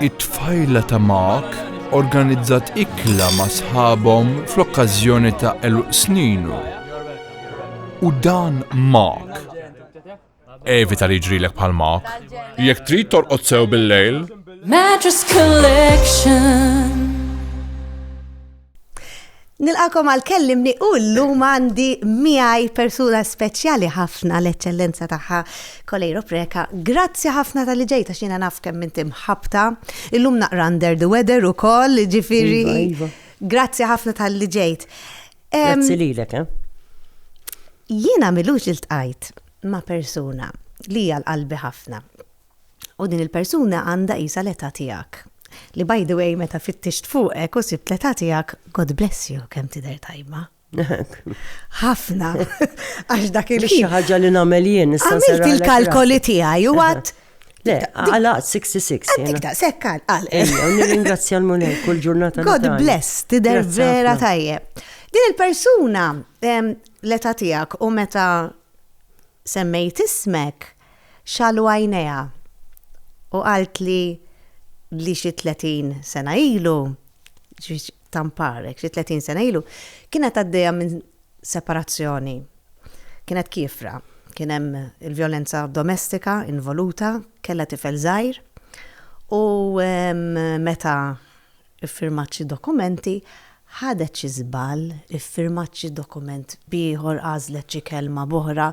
It-tfajla ta' Mark organizzat ikla ma' sħabhom fl-okkażjoni ta' għeluq sninu. U dan Mark. Evita li jġrilek bħal Mark. Jekk trid torqod sew bil-lejl. Mattress Collection. Nilqakom għal kellimni u llum għandi miegħi persuna speċjali ħafna l-eċċellenza tagħha Kolejro Preka. Grazzi ħafna tal-li ġejta xina naf kemm inti mħabta. Illum naqra under the weather ukoll, ġifieri. Iva, iva. Grazzi ħafna tal-li ġejt. Grazzi lilek, eh? Jiena milux il-tqajt ma' persuna li għal qalbi ħafna. U din il-persuna għandha qisha l-età tiegħek. Li by the way meta fittixt fuqek u sibt l-età tiegħek, God bless you, kemm tidher tajba. Ħafna. Għax dak il Xi ħaġa li nagħmel jien issa. Għamilt il-kalkoli tiegħi u għad Le, għala 66. Għandik da, sekkal, għal. Ejja, nirringrazzja l-mulej kull ġurnata. God bless, tider vera tajjeb. Din il-persuna, l-età tiegħek u meta semmejt ismek, Xagħlu għajnejha u qaltli li xi tletin sena ilu, ġifieri Tampar, hekk xi tletin sena ilu, kienet għaddejja minn separazzjoni. Kienet kiefra, kien hemm il-vjolenza domestika involuta, kellha tifel żgħir u meta ffirmat xi dokumenti, ħadet xi żball, iffirmat xi dokument b'ieħor, għażlet xi kelma b'oħra.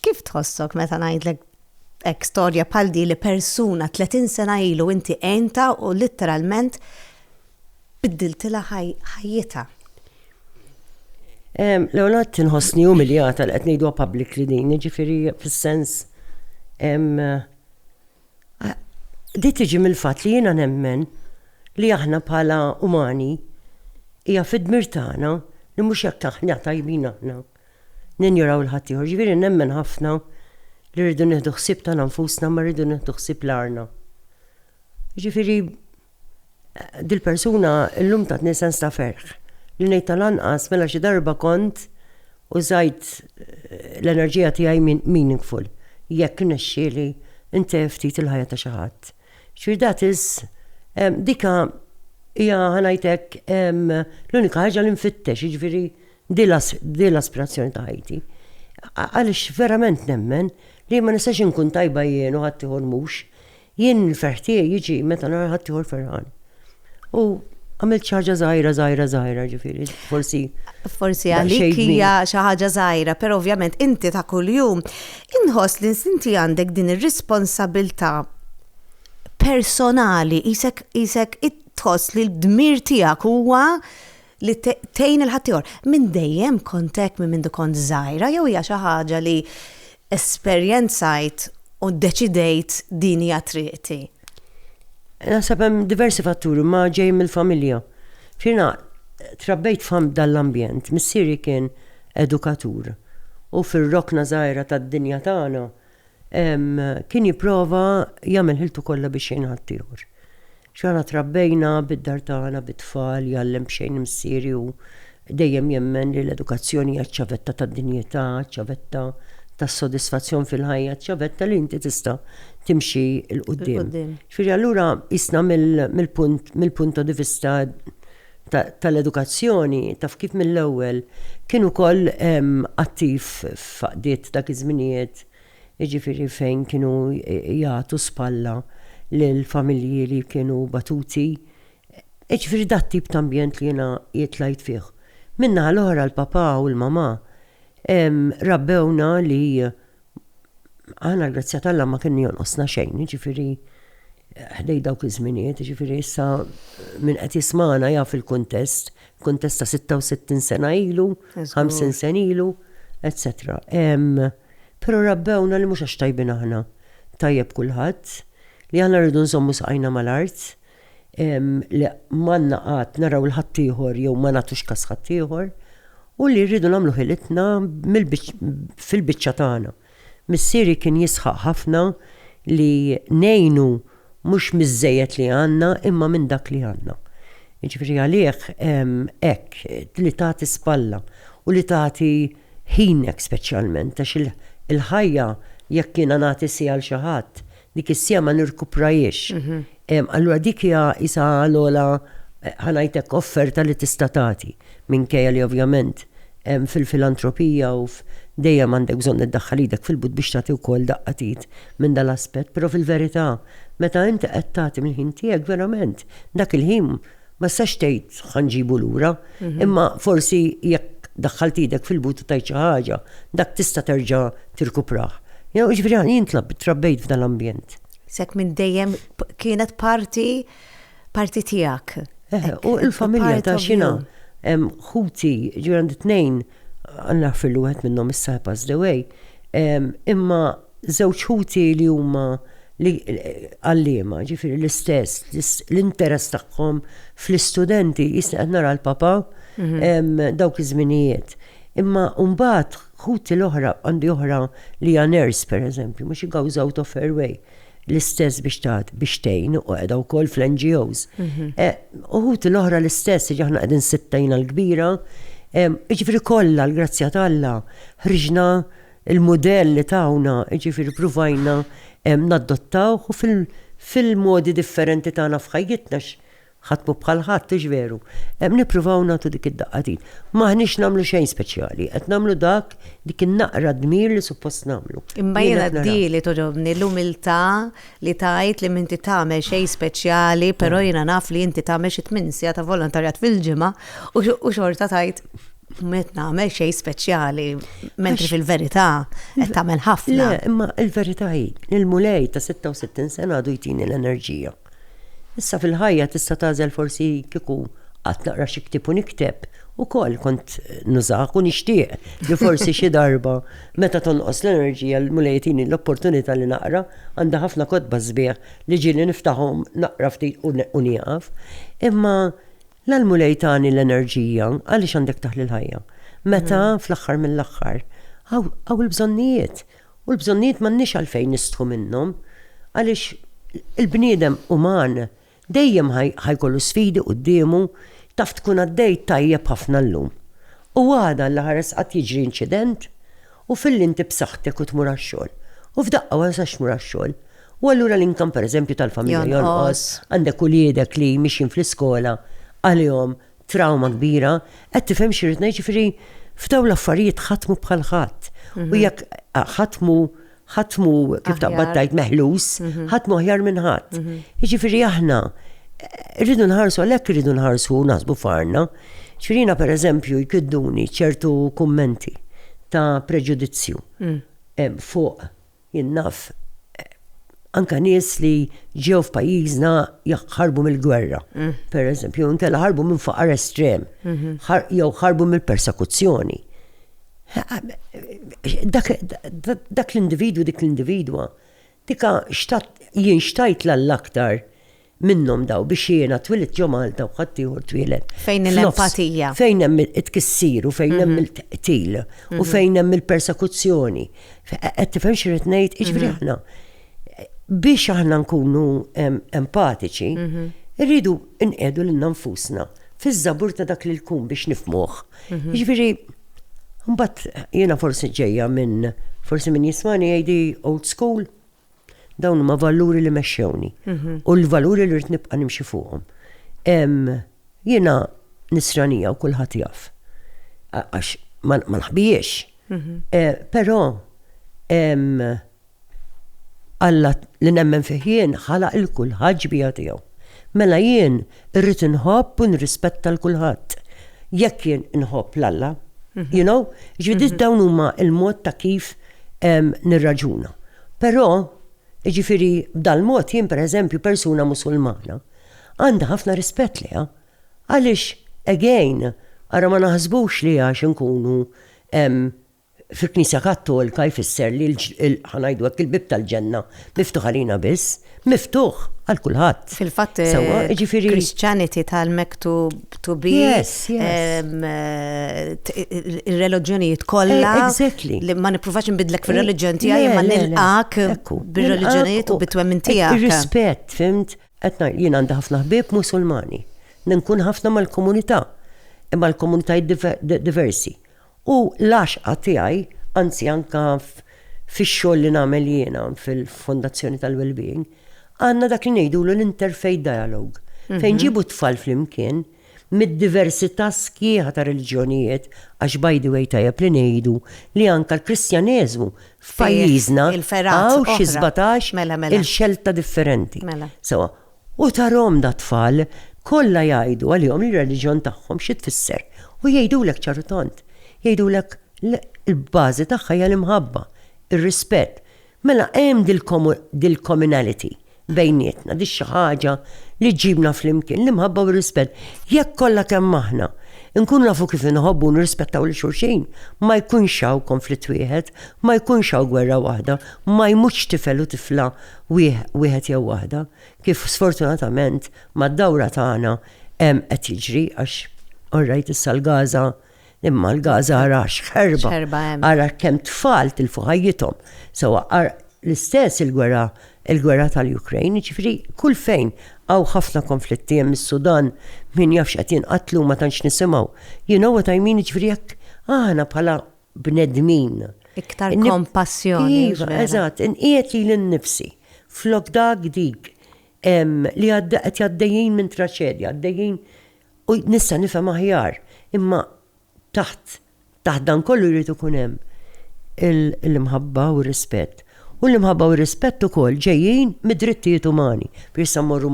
Kif tħossok meta ngħidlek hekk storja bħal di li persuna 30 sena ilu inti għinta u litteralment biddiltilha ħajjitha? L-għonet tinħossni umiljata li qed ngħidu public li din, ġifiri fis-sens di tiġi mill-fatt li jiena nemmen li aħna bħala umani hija fid-dmir tagħna li mhux jekk aħna tajbin aħna ninjoraw 'il ħaddieħor. Jiġifieri nemmen ħafna li rridu nieħdu ħsieb tagħna nfusna ma rridu nieħdu ħsieb l-għarna. Jiġifieri dil-persuna llum tatni sens ta' ferħ li ngħid tal-anqas mela xi darba kont użajt eh, l-enerġija tiegħi meaningful jekk nexxieli intef ftit il-ħajja ta' xi ħadd. Xi dat is dika hija ħanajtek l-unika ħaġa li nfittex, jiġifieri Din l-aspirazzjoni ta' ħajti. Għaliex verament nemmen li ma nistax inkun tajba jien u ħaddieħor mhux. Jien il-ferħ tiegħi jiġi meta nara ħaddieħor ferħan. U għamilt xi ħaġa żgħira, żgħira, żgħira, ġifieri, forsi. Forsi għalik hija xi ħaġa żgħira, però ovvjament inti ta' kuljum inħoss li inti għandek din ir-responsabilità personali, isek isek tħoss li l-dmir tiegħek huwa li tgħin il ħaddieħor. Minn dejjem kont hekk minn mindu kont żgħira jew hija xi ħaġa li esperjenzajt u ddeċidejt din hija triqti? Naħseb hemm diversi fatturi ma ġej mill-familja. Xina trabbejt fam dal-ambjent, missieri kien edukatur u fir-rokna żgħira tad-dinja tagħna kien jipprova jagħmel ħiltu kollha biex jgħin ħaddieħor. X'għana trabbejna bid-dar tagħna bit-tfal, jgħallem b'xejn missieri hu dejjem jemmen li l-edukazzjoni hija ċ-ċavetta tad-dinjità, ċ-ċavetta tas-sodisfazzjon fil-ħajja, ċ-ċavetta li inti tista' timxi 'l quddiem. Ġifieri allura qisna mill-punt mill-punto di vista tal-edukazzjoni, taf kif mill-ewwel kien ukoll attiv f'għaqdiet dak iż-żminijiet jiġifieri fejn kienu jagħtu spalla lil familji li kienu batuti, jiġifieri dak tip ta' ambjent li jiena tlajt fih. Min-naħa l-oħra l-papà u l-mamà rabbewna li aħna l-grazzja t'Alla ma kien jonqosna xejn, jiġifieri ħdejn dawk iż-żminijiet, jiġifieri issa min qed jismagħna jaf il-kuntest, kuntest ta' sitta u sittin sena ilu, ħamsin sena ilu, etsetera. Pero' rabbewna li mhux għax tajbin aħna, tajjeb kulħadd, li aħna rridu nżommu saqajna mal-art, li m'għandna qagħad naraw 'l ħaddieħor jew ma nagħtux kas ħaddieħor, u li rridu nagħmlu ħilitna fil-biċċa tagħna. Missieri kien jisħaq ħafna li ngħinu Mhux miż-żejjed li għandna, imma minn dak li għandna. Jiġifieri għalih hekk, li tagħti spalla u li tagħti ħinek speċjalment għax il-ħajja jekk jiena nagħti siegħa għal xi ħadd, dik is-siegħa ma nirkuprajhiex. Allura dik hija qisha l-ogħla ħa ngħid hekk offerta li tista' tagħti. Minkejja li ovvjament fil-filantropija u dejjem għandek bżonn iddaħħal idek fil-but biex tagħti wkoll daqqa t'id minn dal-aspett, però fil-verità meta inti qed tagħti mill-ħin tiegħek verament dak il-ħin ma tistax tgħid ħa nġibu lura, imma forsi jekk daħħalt idek fil-but u tajt xi ħaġa, dak tista' terġa' tirkuprah. Jiġifieri jien trabbejt f'dan l-ambjent. S'hekk minn dejjem kienet parti Parti tiegħek. Eh, u l-familja ta' xina ħuti ġifier għandi tnejn għandna fil wieħed minnhom issa passed away. Imma żewġ ħuti li huma li għallima, ġifiri l-istess, l-interess tagħhom fl-istudenti jisna qed nara l-papa mhm. dawk iż-żminijiet. Imma mbagħad ħuti l-oħra għandi oħra li hija nurse pereżempju, mhux igawżaw ta' fairway. l-istess biex taħt biex tejn u għedha wkoll fl-NGOs. Mhm. Eh, uħut l-oħra l-istess, ġaħna għedin sittajna l-kbira, ġifri kollha l-grazzja talla, ħriġna il-modell li tawna, ġifri provajna naddottaw u fil-modi differenti tagħna f'ħajjitna Ħadtmu bħal ħadd hux veru? Hemm nippruvaw nagħtu dik id-daqqatin. M'aħniex nagħmlu xejn speċjali, qed nagħmlu dak, dik in-naqra dmir li suppost nagħmlu. Imma jiena di li togħġobni, l-umiltà li tgħid li m'inti tagħmel xejn speċjali, però jiena naf li inti tagħmel xi tmien siegħa ta' volontarjat fil-ġimgħa u xorta tgħid Met nagħmel xejn speċjali, mentri fil-verità qed tagħmel ħafna. Le, imma l-verità hi, il-mulej ta' 66 sena għadu jtini l-enerġija. Issa fil-ħajja tista' tagħżel forsi kieku qatt naqra xi ktieb u nikteb ukoll kont nużak u nixtieq li forsi xi darba meta tonqos l-enerġija l-Mulej jtini l-opportunità li naqra, għandi ħafna kotba sbieħ li ġieli niftahom naqra ftit u nieqaf. Imma la l-Mulej tani l-enerġija għaliex għandek taħli l-ħajja. Meta fl-aħħar mill-aħħar hawn il-bżonnijiet U l-bżonnijiet m'għandniex għalfejn nistħu minnhom għaliex il-bniedem uman dejjem ħa jkollu sfidi quddiemu, taf tkun għaddejt tajjeb ħafna llum u għada alla ħares qatt jiġri inċident u filli inti b'saħħtek u tmur għax-xogħol u f'daqqa ma tistax tmur għax-xogħol u allura l-income pereżempju tal-familja jonqos, għandek uliedek li mixjin fl-iskola għalihom trawma kbira, qed tifhem xi rrid ngħid, ġifieri f'dawn l-affarijiet ħadd mhu bħal ħadd. U mhm. jekk ħadd mhu ħadd mhu kif taqbad tajt meħlus, mhm. ħadd mhu aħjar minn ħadd. Mhm. Jiġifieri aħna eh, rridu nħarsu għalhekk rridu nħarsu naħsbu farna. Xirina per eżempju jkidduni ċertu kummenti ta' preġudizzju mm. eh, fuq Jien naf anke nies li ġew f'pajjiżna ħarbu mill-gwerra, pereżempju, jew inkella ħarbu minn faqar estrem, jew ħarbu mill-persekuzzjoni. Dak l-individwu, dik l-individwa, tika jien xtajtla l-aktar Minnhom daw biex jiena twilidt ġo Malta u ħaddieħor twieled. Fejn hemm l-empatija. Fejn hemm it-tkissir u fejn hemm il-qtil u fejn hemm il-persekuzzjoni. Qed tifhem xi rrid ngħid? Jiġifieri aħna biex aħna nkunu empatiċi, rridu nqiegħdu lil nfusna fiż-żabur ta' dak li jkun biex nifmuh. Jiġifieri mbagħad jiena forsi ġejja minn forsi min jismani jgħidi old school. Dawn huma valuri li mexxewni mhm. u l-valuri li rrid nibqa' nimxi fuqhom. Jiena nisranija u kulħadd jaf. Għax ma nħbijiex. Mhm. Eh, però Alla li nemmen fih jien ħalaq il-kulħadd ġbija tiegħu. Mela jien Irrid inħobb u nirrispetta l kulħadd. Jekk jien inħobb l Alla, you know? Ġifieri dawn huma l-mod ta' kif nirraġuna. Però, jiġifieri b'dal-mod jien pereżempju persuna Musulmana għandi ħafna rispett lejha. Għaliex, again, ara ma naħsbux li għax inkunu fil-Knisja Kattolika jfisser li l, ħa ngħidu hekk, il-bieb tal-ġenna miftuħ għalina biss, miftuħ għal kulħadd. Fil-fatt, il-Christianity tal-mektub to be, il-reliġjonijiet kollha, li ma nippruvax nbidlek fir-reliġjon tiegħi, ma nilqak bir-reliġjonijiet u bit-twemmin tiegħek. Rispett, fimt, qed jien għandi ħafna ħbieb Musulmani, ninkun ħafna mal-komunità, imma l-komunitajiet diversi. U l-għaxqa tiegħi, anzi anke fix-xogħol li nagħmel jiena fil-Fondazzjoni tal-Wellbeing, għandna dak li ngħidulu l-interfaith dialogue, fejn nġibu t-tfal flimkien mid-diversità sħiħa ta' reliġjonijiet, għax by the way tajjeb li ngħidu li anke l-Kristjaneżmu f'pajjiżna hawn xi sbatax-il xelta differenti. U tarahom dat-tfal kollha jgħidu għalihom ir-reliġjon tagħhom xi tfisser, u jgħidulek ċar u tond. Jgħidulek li l-bażi tagħha hija l-imħabba, ir-rispett. Mela hemm dil-communality bejnietna, di xi ħaġa li ġġibna flimkien, l-imħabba u r-rispett. Jekk kollha kemm aħna nkunu nafu kif inħobbu u nirrispettaw lil xulxin, ma jkunx hawn konflitt wieħed, ma jkunx hawn gwerra waħda, ma jmutx tifel u tifla wieħed jew waħda, kif sfortunatament mad-dawra tagħna hemm qed jiġri għax all right issa l-Gaza imma l-Gaza ara x'ħerba, ara kemm tfal tilfu ħajjithom. Sewa l-istess il-gwerra il-gwerra tal-Ukrajn, ġifri kull fejn għaw ħafna konflitti hemm is-Sudan min jafx qed jinqatlu ma tantx nisimgħu. You know what I mean, ġifri jekk aħna bħala bnedmin. Iktar kompassjoni. Iva, eżatt, inqiegħed lili nnifsi. Flok dak dik li qed għaddejjin minn traċedja, għaddejjin u nista' nifhem aħjar, imma taħt taħt dan kollu jrid ikun hemm l-imħabba u r-rispett. U l-imħabba u r-rispett ukoll ġejjin mid-drittijiet umani. Biex issa mmorru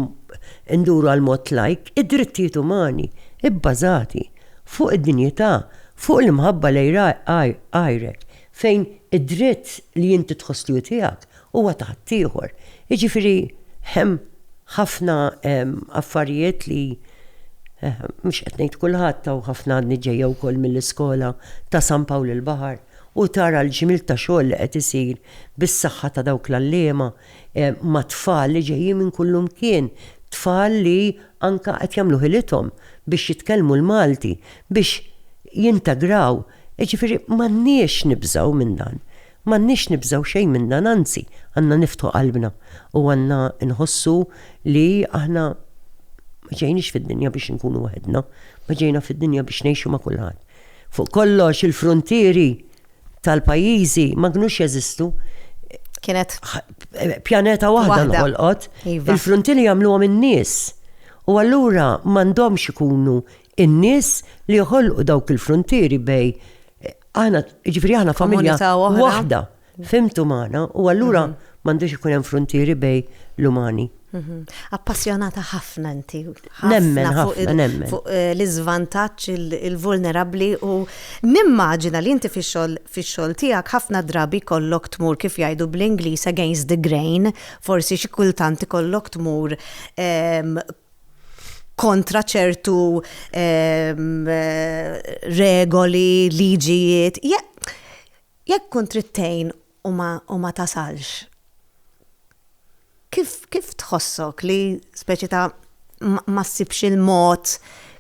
nduru għall-mod lajk, id-drittijiet umani bbażati fuq id-dinjità, fuq l-imħabba lejn għajrek, fejn id-dritt li inti tħoss li hu tiegħek huwa ta' ħaddieħor. Jiġifieri hemm ħafna affarijiet li mhux qed ngħid kulħadd, hawn ħafna għadni ġejja wkoll mill-iskola ta' San Pawl il-Baħar. u tara l-ġmiel ta' xogħol li qed isir bis-saħħa ta' dawk l-għalliema ma' tfal li ġejjin minn kullimkien, tfal li anke qed jagħmlu ħilithom biex jitkellmu l-Malti, biex jintegraw. Jiġifieri m'għandniex nibżgħu minn dan. M'għandniex nibżgħu xejn minn dan, anzi, għandna niftħu qalbna u għandna nħossu li aħna ma ġejniex fid-dinja biex inkunu waħedna, ma ġejna fid-dinja biex ngħixu ma' kulħadd. Fuq kollox il-fruntieri tal-pajjiżi ma kinux jeżistu. Kienet pjaneta waħda nħolqot. Iva. Il-fruntieri jagħmluhom in-nies. U allura m'għandhomx ikunu in-nies li joħolqu dawk il-fruntieri bej aħna ġifieri aħna familja waħda. Fhimt umana u allura m'għandux ikun hemm fruntieri bejn l-umani. Mhm. Appassjonata ħafna inti. Nemmen ħafna, nemmen. Fuq eh, l-iżvantaġġ, il-vulnerabbli u nimmaġina li inti fix-xogħol tiegħek ħafna drabi kollok tmur kif jgħidu bl-Ingliż against the grain, forsi xi kultant ikollok tmur ehm, kontra ċertu ehm, eh, regoli, liġijiet. Jekk tkun trid tgħin u ma u ma tasalx, kif kif tħossok li speċi ta' ma ma ssibx il-mod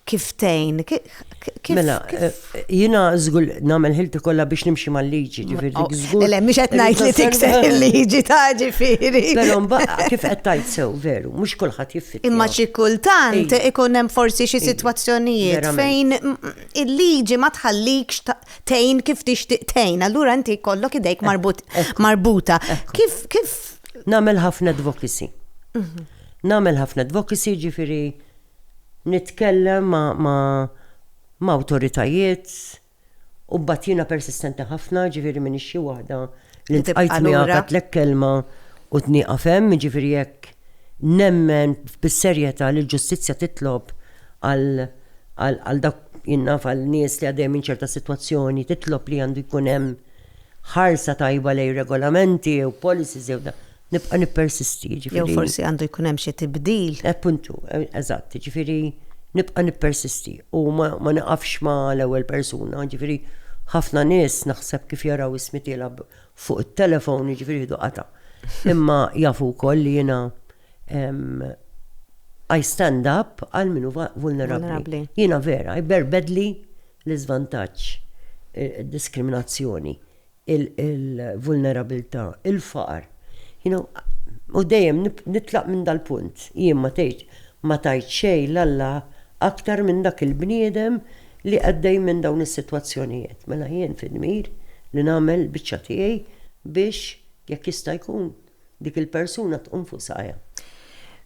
kif tgħin? Ki- ki- kif- Mela, kif- eh, jina żgur nagħmel ħilti kollha biex nimxi mal-liġi, ġifieri dik żgur. Le, mhux qed ngħid li tikser il-liġi ta' ġifieri. Però mbagħad kif qed tgħid sew veru, mhux kulħadd jiffittja. Imma xi kultant Ej. ikun hemm forsi xi sitwazzjonijiet Verament. fejn mm, il-liġi ma tħallikx ta- tgħin kif tixtieq tgħin, allura inti jkollok idejk marbuta. Kif kif Namel ħafna advocacy. Mhm. Namel ħafna advocacy ġifiri nitkellem ma, ma, ma autoritajiet u batjina persistenti ħafna ġifiri minni xi waħda li tibqa' miegħek għatlek kelma u tnieqaf hemm, jiġifieri jekk nemmen bis-serjetà li l-ġustizzja titlob għal dak jinnaf għal nies li għaddejjem minn ċerta sitwazzjoni titlob li għandu jkun hemm ħarsa tajba lejn regolamenti jew policies jew Nibqa' nippersisti, jiġifieri. Jew forsi għandu jkun hemm xi tibdil. Appuntu, eżatt, jiġifieri nibqa' nippersisti u ma niqafx ma' l-ewwel persuna, jiġifieri ħafna nies naħseb kif jaraw ismi tiela' fuq it-telefon jiġifieri jieħdu qatgħa. Imma jafu wkoll li jiena I stand up għal min hu vulnerabbli. Jiena vera, jberbedli l-iżvantaġġ, id-diskriminazzjoni. il-vulnerabilità, il-faqar. You know, u dejjem nitlaq minn dal-punt. Jien ma tgħid ma tajt xejn l-Alla aktar minn dak il-bniedem li għaddej minn dawn is-sitwazzjonijiet. Mela jien fi dmir li nagħmel biċċa tiegħi biex jekk jista' jkun dik il-persuna tqum fuq saqajha.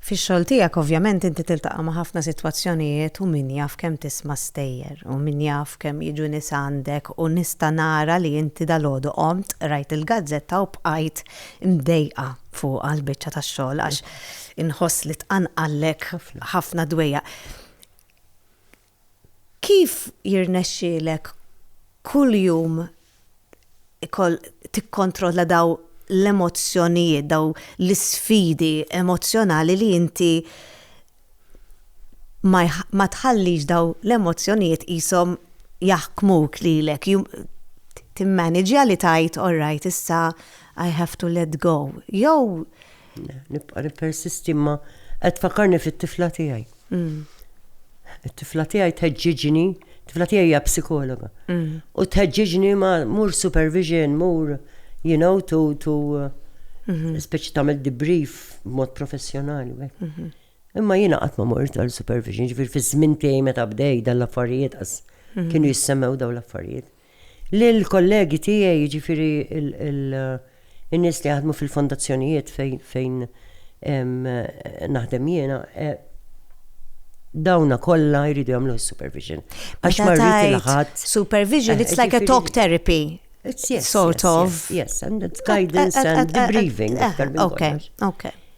Fix-xogħol tiegħek ovvjament inti tiltaqa' ma' ħafna sitwazzjonijiet u min jaf kemm tisma' stejjer u min jaf kemm jiġu nies għandek u nista' nara li inti dalgħodu qomt, qrajt il-gazzetta u bqajt imdejqa fuqha l-biċċa tax-xogħol għax inħoss li tqanqallek ħafna dwejjaq. Kif jirnexxielek kuljum tikkontrolla dawn l-emozzjonijiet, dawn l-isfidi emozzjonali li inti ma tħallix dawn l-emozzjonijiet qishom jaħkmuk lilek, timmaniġja li tgħid all right issa I have to let go jew Nibqa' nippersisti imma qed fakarni fit-tifla tiegħi. Mm. It-tifla tiegħi tħeġġiġni, tifla tiegħi hija psikologa. Mm. U tħeġġiġni ma mur supervision, mur you know to to mhm. speċi tagħmel debrief b'mod professjonali. Mhm. Imma jiena qatt ma mort għal supervision, ġifier fiż-żmien tiegħi meta bdej dan l-affarijiet mhm. kienu jissemmew daw l-affarijiet. Lill-kollegi tiegħi, jiġifieri n-nies li jaħdmu fil-fondazzjonijiet fejn naħdem jiena, dawna kollha jridu jagħmlu supervision. Għax ma rrid il-ħadd. Supervision, it's like a talk therapy. It's yes, sort of. Yes, and it's guidance and debriefing. Okay, okay.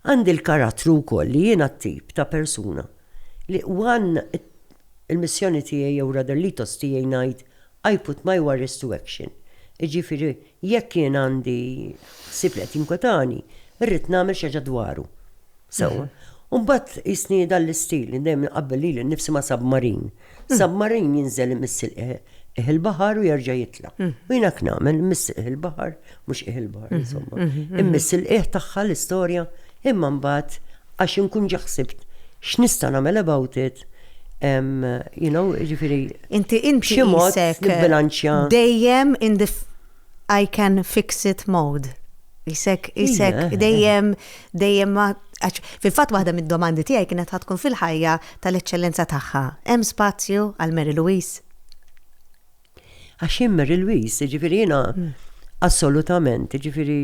Għandi l-karattru wkoll li jiena t-tip ta' persuna li one il-missjoni tiegħi jew rather l-ethos tiegħi ngħid I put my worries to action. Jiġifieri jekk jien għandi ħsieb li qed jinkwetani, irrid nagħmel xi ħaġa dwaru. Sewwa. U mbagħad qisni dan l-istil li dejjem inqabbel lili nnifsi ma' submarine. Submarin jinżel imiss il-qih il-baħar u jerġa' jitla. U jina knamen imiss il-qih il-baħar, mhux qih il-baħar, insomma. Imiss il-qih tagħha l-istorja, imma mbagħad għax inkun ġaħsibt x'nista' nagħmel about it, you know, jiġifieri. Inti inti xi mod bilanċja. Dejjem in the I can fix it mode. Isek, isek, dejjem, dejjem ma. Fil-fatt waħda mid-domandi tiegħi kienet ħatkun fil-ħajja tal-eċċellenza tagħha. Hemm spazju għal Mary Louise? Għax hemm Mary Louise, ġifieri jiena hmm. assolutament, ġifieri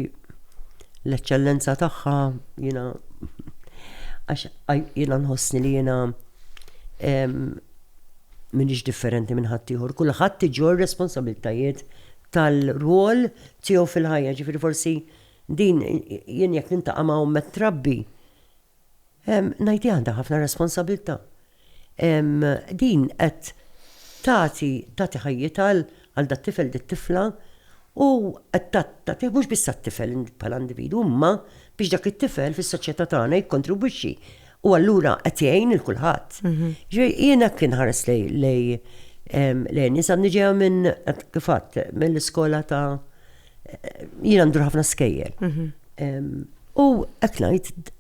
l-eċċellenza tagħha jiena għax jiena nħossni li jiena M'iniex differenti minn ħaddieħor, kulħadd iġorr responsabbiltajiet tal-rwol tiegħu fil-ħajja, ġifieri forsi din jien jekk nintaqa' ma' omm qed trabbi, ngħidilha għandha ħafna responsabbiltà. Din qed tagħti tagħti ħajjitha għal dat-tifel, dit-tifla u qed tagħtih mhux biss għat-tifel bħala individwu imma biex dak it-tifel fis-soċjetà tagħna jikkontribwixxi u allura qed jgħin lil kulħadd. Ġifieri jien hekk inħares lej Lenis għandi ġejja minn kif għadt mill-iskola ta' jiena ndur ħafna skejjel. U qed ngħid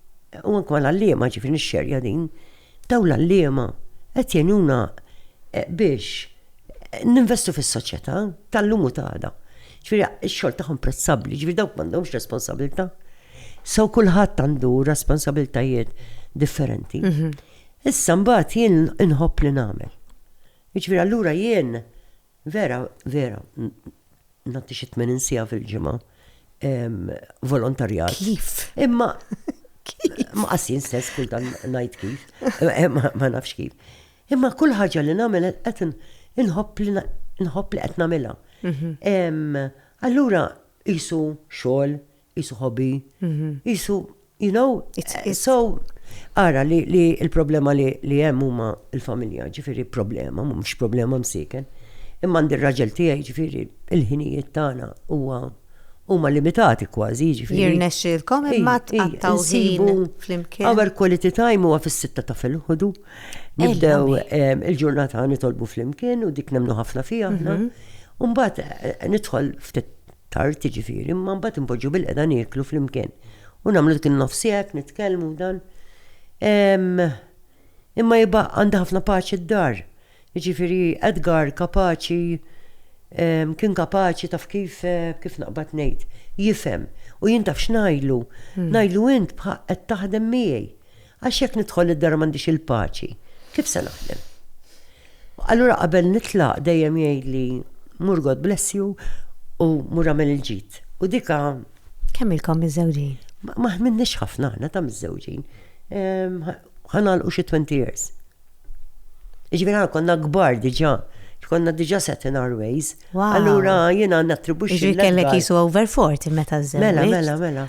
u anke mal-għalliema ġifieri nixxerja din Dawn l-għalliema qed jgħinuna biex ninvestu fis-soċjetà tal-lum u ta' għada. Ġifieri x-xogħol tagħhom prezzabbli, ġifieri dawk m'għandhomx responsabbiltà. So kulħadd għandu responsabbiltajiet differenti. Issa mbagħad jien inħobb li nagħmel. Jiġifieri allura jien Vera, vera, nagħti xi 80 siegħa fil-ġimgħa volontarjat. Kif? Imma ma qasin stess kull dan ngħid kif, eh, ma nafx kif. Imma kull ħaġa li nagħmel qed inħobb li nħobb li qed nagħmilha. Mhm. Allura isu xogħol qisu hobby, qisu, you know, so, ara li l-problema li hemm huma l-familja, ġifieri problema, mhux problema msiken. Imma għandi r-raġel tiegħi ġifieri il-ħinijiet tagħna huwa huma limitati kważi ġifieri. Jirnexxilkom imma tqattgħu sibu flimkien. Our quality time huwa fis-sitta ta' filħodu. Nibdew il-ġurnata nitolbu flimkien u dik nemnu ħafna fiha aħna. Umbagħad nidħol ftit tard jiġifieri, imma mbagħad inpoġġu bil-qeda nieklu flimkien. U nagħmlu dik in-nofs hekk, nitkellmu dan. Imma jibqa' għandha ħafna paċi d-dar. Jiġifieri Edgar kapaċi kien kapaċi taf kif kif naqbad ngħid, jifhem u jien taf x'ngħidlu. Hmm. Ngħidlu int qed taħdem miegħi. Għax jekk nidħol id-dar u m'għandix il-paċi, kif se naħdem? Allura qabel nitlaq dejjem jgħidli mur God bless you u mur għamel il-ġid. U dika. Kemm ilkom miżżewġin? Ma ħminniex ħafna aħna ta' miżżewġin. Ħanalqu xi 20 years. Iġvira konna kbar diġa. Konna diġa set in our ways. Allura jiena nattribuxxi. Iġviri kellek jisu over 40 meta żżewġ. Mela, mela, mela.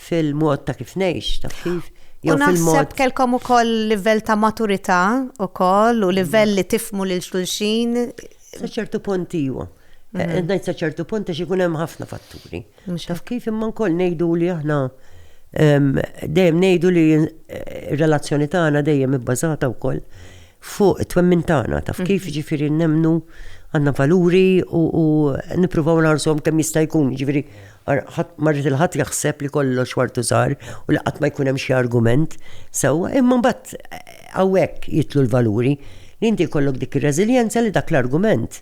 fil-mod ta' kif ngħix, ta' kif. U naħseb kelkom ukoll livell ta' maturità ukoll u livell li tifmu lil xulxin. Sa ċertu punt iwa. Mhm. Eh, ngħid sa ċertu punt għax ikun hemm ħafna fatturi. Taf kif imma nkoll ngħidu li aħna dejjem ngħidu li eh, relazzjoni tagħna dejjem ibbażata wkoll fuq it-twemmin tagħna, taf kif mm-hmm. ġifiri nemnu għandna valuri u nippruvaw nagħrżhom kemm jista' jkun, ġifiri marrit il-ħadd jaħseb li kollox wartu żgħar u li qatt ma jkun hemm xi argument sewwa, imma mbagħad hawnhekk jitlu l-valuri li inti jkollok dik ir-reżiljenza li dak l-argument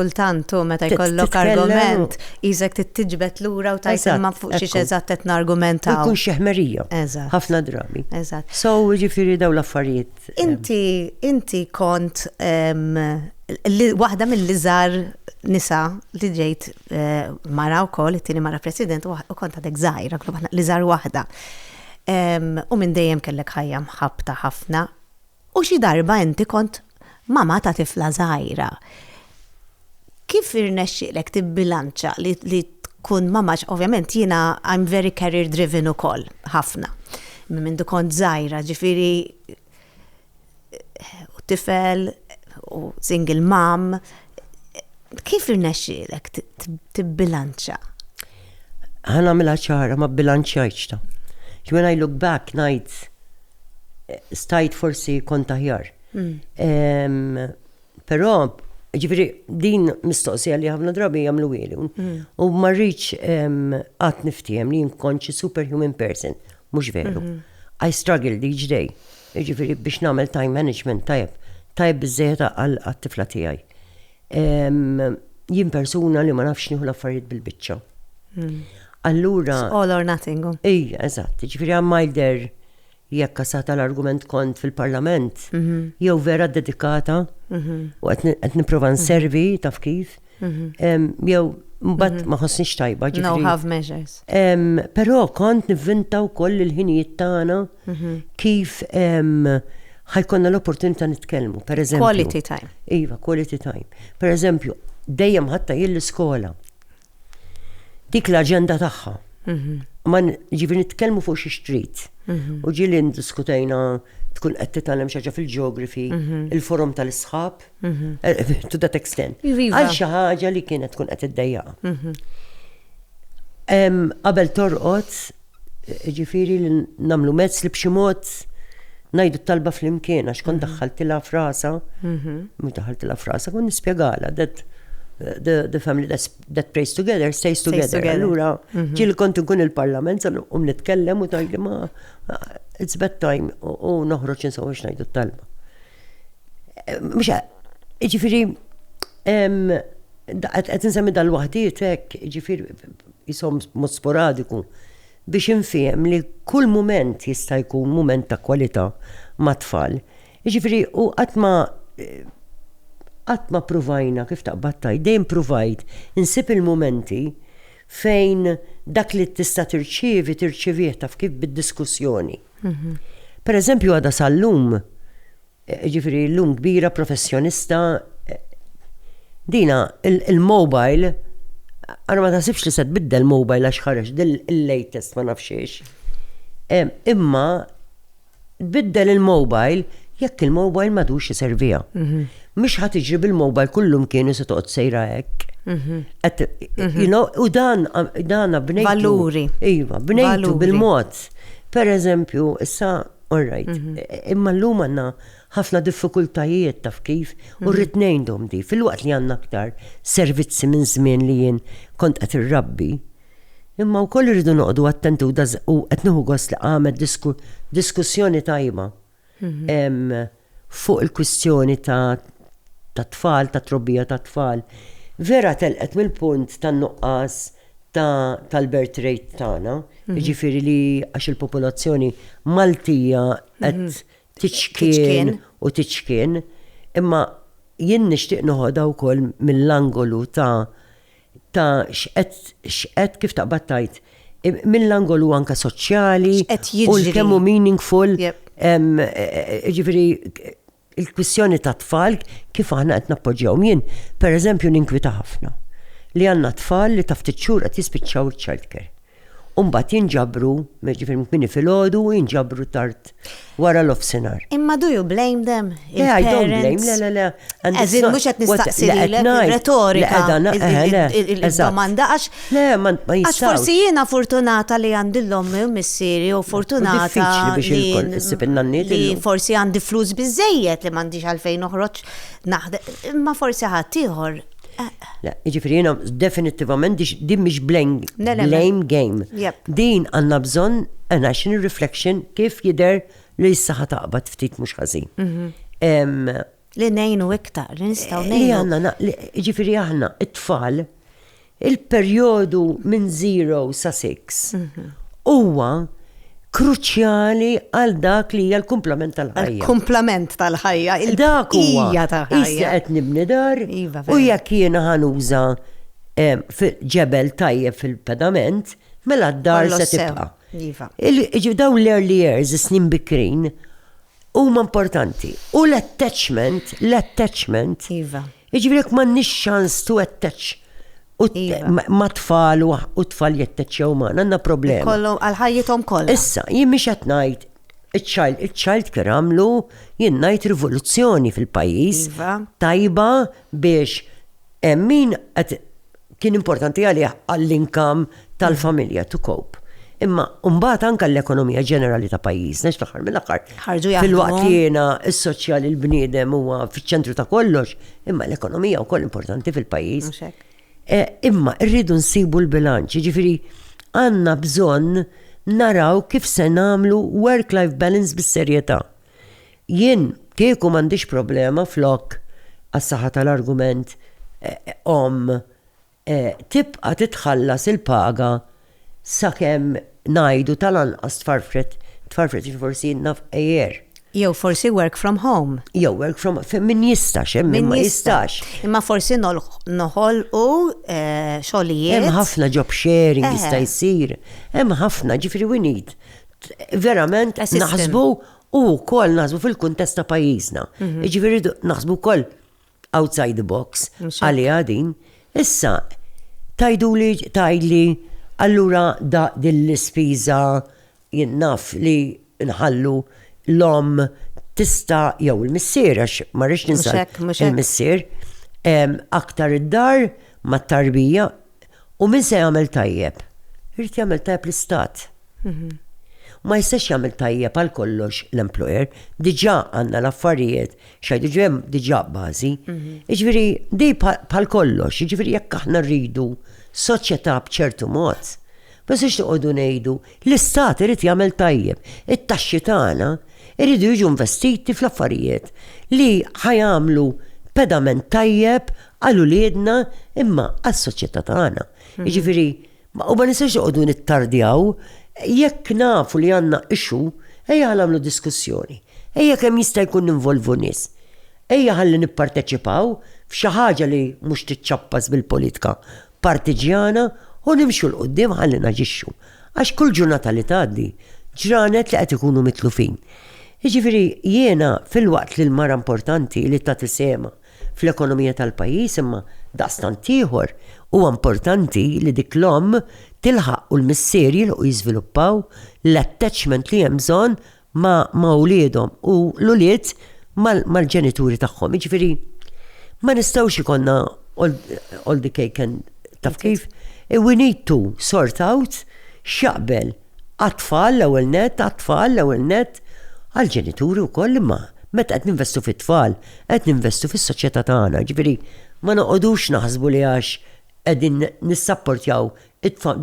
kultant u meta jkollok argument, jizek tittiġbet lura u tajt ma fuq xiex eżatt qed nargumentaw. Kun xeħmerija. Ħafna drabi. Eżatt. So ġifiri daw l-affarijiet Inti, inti kont waħda mill-iżar nisa li ġejt eh, mara u koll, it-tini mara president u kont għadek zaħira, li zar waħda. U minn dejjem kellek ħajja mħabta ħafna. U xi darba inti kont mama ta' tifla zaħira. Kif irnexxielek tibbilanċa li li tkun mamma għax ovvjament jiena I'm very career driven ukoll, ħafna. Minn mindu kont żgħira, ġifieri u tifel u single mom. Kif irnexxielek tibbilanċa? Ħa nagħmilha ċara, ma bbilanċjajtx ta'. When I look back ngħid stajt forsi kont aħjar. Però, ġifieri din mistoqsija li ħafna drabi jagħmluhieli. Mm. U ma rridx qatt niftiehem li nkun xi superhuman person, mhux veru. Mhm. I struggled each day, ġifieri biex nagħmel time management tajb, tajb biżejjed għal għat-tifla tiegħi. Em, Jien persuna li ma nafx nieħu l-affarijiet bil-biċċa. Mm. Allura, All or nothing. oh. Ej, eżatt, ġifiri għammajder Jekk kasata l-argument kont fil-Parlament, jew vera ddedikata, u qed nipprova nservi taf kif, jew mbagħad ma ħossniex tajba ġifieri. No half measures. Però kont nivvinta wkoll il-ħinijiet tagħna kif ħajkonna l-opportunità nitkellmu. Per eżempju. Quality time. Iva, quality time. Per eżempju, dejjem ħatta jien l-iskola. dik l-aġenda tagħha. Mhm. Ma ġifieri nitkellmu fuq xi xtrit. Mhm. U ġieli ndiskutajna tkun qed titgħallem xi ħaġa fil-ġeografi, mhm. il-forum tal-isħab, eh, to that extent. Iva. Għal xi ħaġa li kienet tkun qed iddejjaqa. Qabel torqod Jiġifieri li nagħmlu mezz li b'xi mod ngħidu t-talba flimkien għax kont mhm. daħħaltilha frasa, mhm. mhux daħħaltilha frasa, kont nispjegalha that the, the family that, that prays together stays together. Allura mhm. ġil kont nkun il-parlament sal um nitkellem u tajli ma it's bad time u noħroġ insaw biex ngħidu t-talba. Eh, mhux ġifieri qed insemmi dal-waħdiet hekk, ġifieri qishom b'mod sporadiku, biex infiehem li kull mument jista' jkun mument ta' kwalità mat-tfal. Jiġifieri u qatt ma qatt ma ppruvajna, kif taqbad tgħid, dejjem pruvajt insib il-mumenti fejn dak li tista' tirċievi tirċievih taf kif bid-diskussjoni. Pereżempju għadha sal-lum Jiġifieri llum kbira professjonista dina il-mobile ara ma taħsibx li se tbiddel mobile għax ħareġ il-latest ma nafx ix. Imma tbiddel il-mobile jekk il-mobile madux iservija. Mhm. Mhux ħadd iġri bil-mobile kullum kienu se toqgħod sejra hekk. Mhm. Mhm. U dan dan bnejtu. Valuri. Iva, bnejtu bil-mod. Per eżempju, issa All right. Mhm. Imma l-lum għanna ħafna diffikultajiet taf kif u mhm. rrit ngħidhom di fil-waqt li għandna aktar servizzi minn żmien li jien kont qed irrabbi. Imma wkoll irridu noqogħdu attentu u qed nieħu gost li għamet diskussjoni tajba. Mhm. Fuq il-kwistjoni ta' tat-tfal, tat-trobbija tat-tfal, Vera telqet mill-punt tan-nuqqas ta' tal-birth rate tagħna, jiġifieri li għax il-popolazzjoni Maltija qed tiċkien u tiċkien, imma jien nixtieq noħodha wkoll mill-angolu ta' ta' x'qed x'qed kif taqbad tajt mill-angolu anka soċjali u kemm hu meaningful ġifieri il-kwistjoni ta' tfal kif aħna qed nappoġġjaw jien pereżempju ninkwita ħafna li għandna tfal li ta' ftit xhur qed jispiċċaw iċ-childcare. u mbagħad jinġabru, jiġifieri kmini filgħodu u jinġabru tard wara l-offsinar. Imma do you blame them? Le, I don't blame, le, le, le. Għazin, mux għet nistaqsi retorika. Il-domanda għax. Le, ma jistax. Għax forsi jena fortunata li għandillom missiri u fortunata. Li forsi għandi flus bizzejiet li mandiġ għalfejn uħroċ naħde. Imma forsi ħatiħor. Le, jiġifieri jiena definittivament dix- din mhix blame, Le, le, le. blame game. Jep. Din għandna bżonn an action reflection kif jidher li s-saħħa taqbad ftit mhux ħażin. Mhm. Em, Li nejnu iktar, li nistaw Li nejnu. għanna, na- li- ġifiri aħna, it-tfal, il-perjodu minn 0 sa 6 huwa kruċjali għal dak li hija l-kumplament tal-ħajja. Il-kumplament tal-ħajja, il-bqija tal-ħajja. Issa qed nibni dar iva, u jekk jiena ħanuża ġebel tajjeb fil-pedament, mela d-dar se tibqa'. Iva. Dawn l-early years, snin bikrin, huma importanti. U l-attachment, l-attachment, iva. Jiġifieri jekk m'għandniex ċans to attach u ma' tfal u tfal jattaċċjaw magħna għandna problema. Ikollhom għal ħajjithom kollha. Issa, jien mhix qed ngħid iċ-child care għamlu jien ngħid rivoluzzjoni fil-pajjiż tajba biex hemm min qed kien importanti għalih għall-inkam tal-familja to cope. Imma mbagħad anke l-ekonomija ġenerali ta' pajjiżna x'taħar mill-aħħar. Ħarġu jaħdmu. Fil-waqt li jiena s-soċjali l-bniedem huwa fiċ-ċentru ta' kollox, imma l-ekonomija wkoll importanti fil-pajjiż. E, imma rridu nsibu l-bilanċ, ġifieri għandna bżonn naraw kif se nagħmlu work-life balance bis-serjetà. Jien kieku m'għandix problema flok, għas-saħħa tal-argument, omm tibqa' titħallas il-paga sakemm ngħidu tal-anqas tfarfret, tfarfret jiġifieri forsi naf għejier. Jew forsi work from home. Jew work from home, min jistax, hemm min ma jistax. Imma forsi noħolqu xogħlijiet. Hemm ħafna job sharing jista' jsir, hemm ħafna, jiġifieri we need verament naħsbu u wkoll naħsbu fil-kuntest ta' pajjiżna. Mhm. Jiġifieri naħsbu wkoll outside the box għaliha din. Issa tajdu li tajli allura da din l-ispiża jinnaf li nħallu l-om tista jew il-missier għax ma rridx ninsaq il-missier aktar id-dar mat-tarbija U min se jagħmel tajjeb? Irid jagħmel tajjeb l-istat. Mhm. Ma jistax jagħmel tajjeb għal kollox l-employer, diġà għandna l-affarijiet xajdu ġem diġà bażi. Mhm. Jiġifieri di bħal kollox, jiġifieri jekk aħna rridu soċjetà b'ċertu mod, ma jistax noqogħdu ngħidu l-istat irid jagħmel tajjeb. It-taxxi tagħna iridu jiġu investiti fl-affarijiet li ħajamlu pedament tajjeb Għal uliedna imma għas-soċjetà tagħna. Jiġifieri, u ma nistgħux noqogħdu nittardjaw jekk nafu li għandna issue, ejja nagħmlu diskussjoni. Ejja kemm jista' jkun ninvolvu nies. Ejja ħalli nipparteċipaw f'xi ħaġa li mhux tiċċappas bil-politika partiġjana u nimxu 'l quddiem ħalli naġixxu. Għax kull ġurnata li tgħaddi, ġranet li qed ikunu mitlufin. Jiġifieri jiena filwaqt li l-mara importanti li tagħti sehemha Fl-ekonomija tal-pajjiż imma, daqstant ieħor, huwa importanti li dik l-omm tilħaq u l-missier jilħqu jiżviluppaw l-attachment li hemm bżonn ma' ma' uliedhom u l-ulied mal mal-ġenituri tagħhom. Jiġifieri ma nistgħux ikollna all all the cake and taf kif? We need to sort out x'jaqbel Għat-tfal l-ewwel nett, għat-tfal l-ewwel nett, għall-ġenituri wkoll imma meta qed ninvestu fit-tfal qed ninvestu fis-soċjetà tagħna, ġifieri ma noqogħdux naħsbu li għax qegħdin nissapportjaw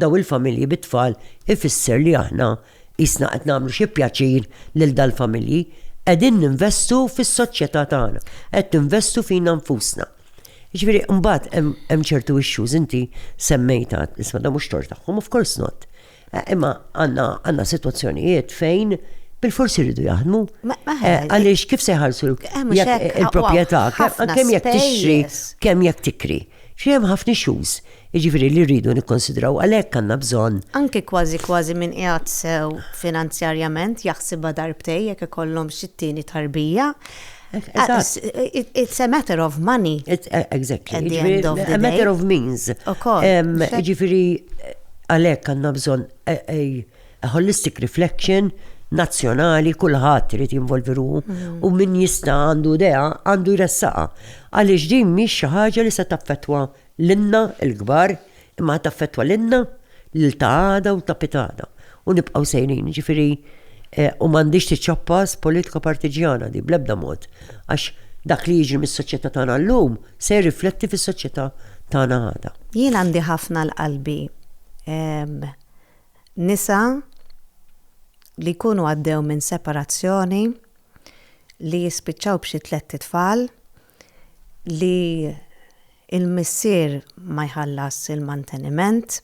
dawn il-familji bit-tfal ifisser li aħna qisna qed nagħmlu xi pjaċir lil dal-familji. Qegħdin ninvestu fis-soċjetà tagħna, qed ninvestu fina nfusna. Ġifieri mbagħad hemm ċertu issues inti semmejtha, isma' dan mhux tort tagħhom, of course not. Imma għandna sitwazzjonijiet fejn bil-forsi rridu jaħdmu. Eh, għaliex kif se jħarsu il-proprjetà, kemm jekk tixri, kemm jekk tikri. Xiem ħafna xuz, iġifiri li rridu nikkonsidraw għalhekk għandna bżonn. Anke kważi kważi minn qiegħed sew finanzjarjament jaħsibha darbtej jekk ikollhom xi tieni tarbija, It's a matter of money. Eh, exactly. At the end of the day. A matter of means. Ġifiri, għalek għanna bżon a holistic reflection nazzjonali kulħadd irid jinvolvi ruħu mm. u min jista' għandu dea għandu jressaqa. Għaliex din mhix xi ħaġa li se taffettwa Lilna l-kbar, imma ħa taffettwa lilna, lil ta' għada u ta' pitgħada. U nibqgħu sejrin, jiġifieri u m'għandhiex tiċċappas politika partiġġjana din bl-ebda mod, għax dak li jiġri mis-soċjetà tagħna llum se jirrifletti fis-soċjetà tagħna għada. Jien għandi ħafna l-qalbi nisa li jkunu għaddew minn separazzjoni, li jispiċċaw b'xi tlett itfal, li l-missier ma jħallasx il-manteniment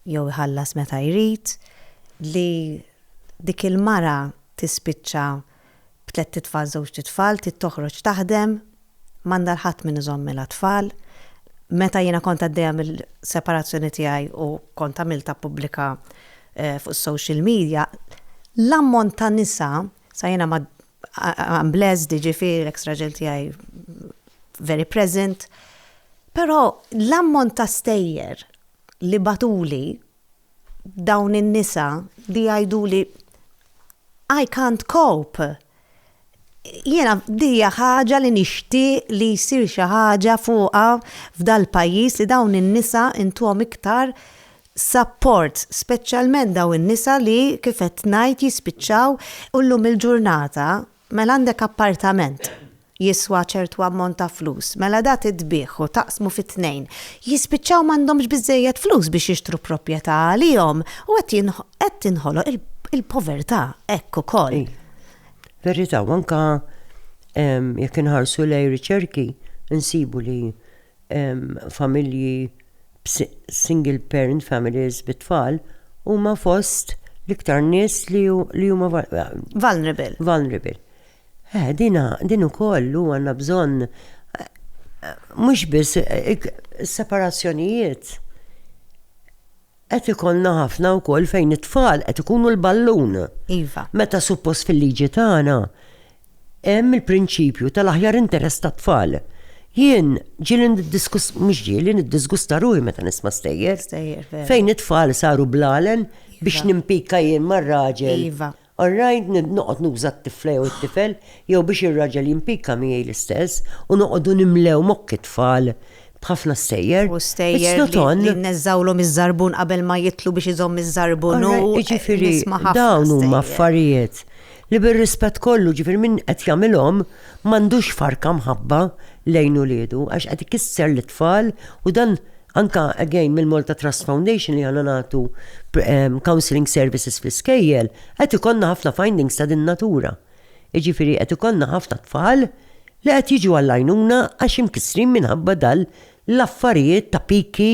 jew iħallas meta jrid, li dik il-mara tispiċċa b'tlett itfal, żewġt itfal, trid toħroġ taħdem, m'għandha 'l ħadd min iżommilha t-tfal. Meta jiena kont għaddejja mill-separazzjoni tiegħi u kont għamiltha pubblika fuq is-social media, l-ammont ta' nisa, sa jiena ma I am blessed, jiġifieri l-ex raġel tiegħi very present. Però l-ammont ta' stejjer li bagħtuli dawn in-nisa li jgħiduli I can't cope. Jiena dija ħaġa li nixtieq li jsir xi ħaġa fuqha f'dal-pajjiż li dawn in-nisa intuhom iktar supports, speċjalment dawn in-nisa li, kif qed ngħid, jispiċċaw u llum il-ġurnata mela għandek appartament jiswa ċertu ammont ta' flus, mela da titbiegħ u taqsmu fi tnejn, jispiċċaw m'għandhomx biżżejjed flus biex jixtru proprjetà għalihom u qed qed tinħoloq il-povertà hekk ukoll. Verità, u anke jekk inħarsu lejn riċerki nsibu li familji single parent families bit-tfal huma fost l-iktar nies li huma vulnerable. Vulnerable. Eh, dina, din ukoll u għandna bżonn mhux biss separazzjonijiet Qed ikollna ħafna wkoll fejn it-tfal qed ikunu l-ballun. Iva. Meta suppost fil-liġi tagħna hemm il-prinċipju tal-aħjar interess tat-tfal. Jien ġieli niddiskus, mhux ġieli niddisgusta ruħi meta nisma' stejjer. Stejjer, vera. Fejn it-tfal saru blalen biex Iva. nimpikka jien mar-raġel. Iva. Alright, noqgħod nuża t-tifla jew it-tifel, jew biex ir-raġel jimpicca miegħi l-istess, u noqogħdu nimlew mokk it-tfal b'ħafna stejjer. U stejjer li nneżżgħulhom iż-żarbun qabel ma jidħlu biex iżomm iż-żarbun u nisma' ħafna stejjer. Jiġifieri dawn huma affarijiet li bir-rispett kollu, jiġifieri min qed jagħmilhom m'għandux farka mħabba lejn uliedu għax qed ikisser lit-tfal u dan Anke, again, mill-Malta Trust Foundation li aħna nagħtu counselling services fl-iskejjel, qed ikollna ħafna findings ta' din natura. Jiġifieri qed ikollna ħafna tfal li qed jiġu għall-għajnuna għax imkissrin minħabba dan l-affarijiet ta' piki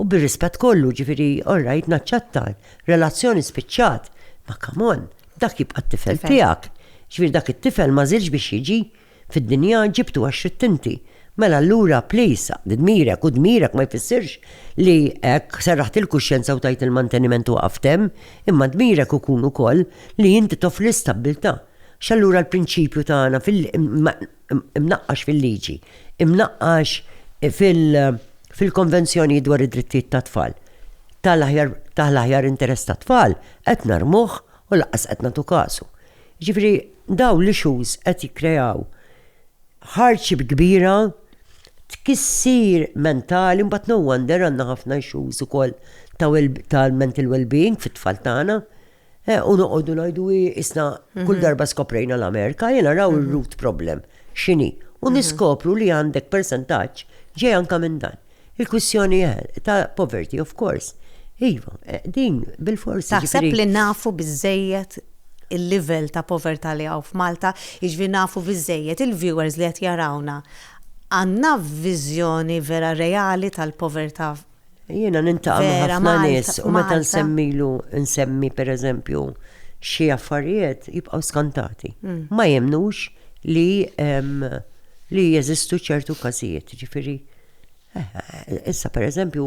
u bir-rispett kollu, jiġifieri, all right, naċċetta, relazzjoni spiċċat, ma come on, dak jibqa' t-tifel tiegħek. Jiġifieri dak it-tifel ma żilx biex jiġi fid-dinja ġibtu għax ridt inti. Mela allura please aqdi dmirek u dmirek ma jfissirx li hekk serraħt il-kuxjenza u tajt il-manteniment u waqaft hemm, imma dmirek ikun ukoll li inti toffri l-istabbiltà. X'allura l-prinċipju tagħna imnaqqax fil-liġi, imnaqqax fil-konvenzjonijiet dwar id-drittijiet tat-tfal, taħt l-aħjar interess tat-tfal qed narmuh u lanqas qed nagħtu kasu. Jiġifieri dawn l-issues qed jikkreaw hardship kbira, tkissir mentali, mbagħad no wonder għandna ħafna issues ukoll ta' mental wellbeing fit-tfal tagħna. U noqogħdu ngħidu hi isna kull darba skoprejna l-Amerika, jiena raw ir-root problem x'inhi. U niskopru li għandek persentaġġ ġej anke minn dan. Il-kwistjoni ta' poverty, of course. Iva, din bil-fors. Taħseb li nafu biżżejjed il-livell ta' povertà li hawn f'Malta, jiġifieri nafu biżżejjed il-viewers li qed jarawna, għandna viżjoni vera reali tal-povertà vera Malta? Jiena niltaqa' ma' ħafna nies u meta nsemmilu, nsemmi pereżempju xi affarijiet jibqgħu skantati. Ma jemmnux li li jeżistu ċertu każijiet, jiġifieri. Issa per eżempju,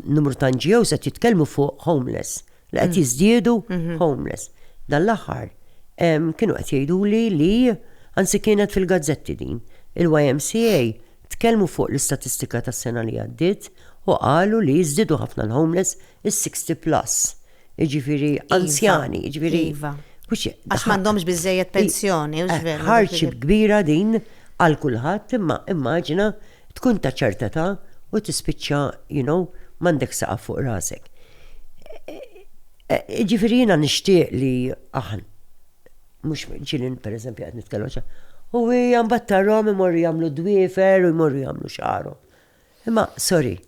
numru ta' NGO se jitkellmu fuq homeless, li qed mm. jiżdiedu mhm. homeless. Dan l-aħħar kienu qed jgħidu li li anzi kienet fil-gazzetti din. Il-YMCA tkellmu fuq l-istatistika tas-sena li għaddiet u qalu li jiżdiedu ħafna l-homeless is-60 plus. jiġifieri iva, anzjani, jiġifieri. Iva. Għax m'għandhomx biżejjed pensjoni, u ġver. Eh, ħarċi kbira din għal kulħadd imma immaġina tkun ta' ċerta ta' u tispiċċa, you know, m'għandek saqaf fuq rasek. Eh, eh, ġifieri jiena nixtieq li aħn. Mhux ġilin pereżempju qed nitkellem U hija mbagħad tarhom imorru jagħmlu dwiefer u jmorru jagħmlu xaru. Imma sorry,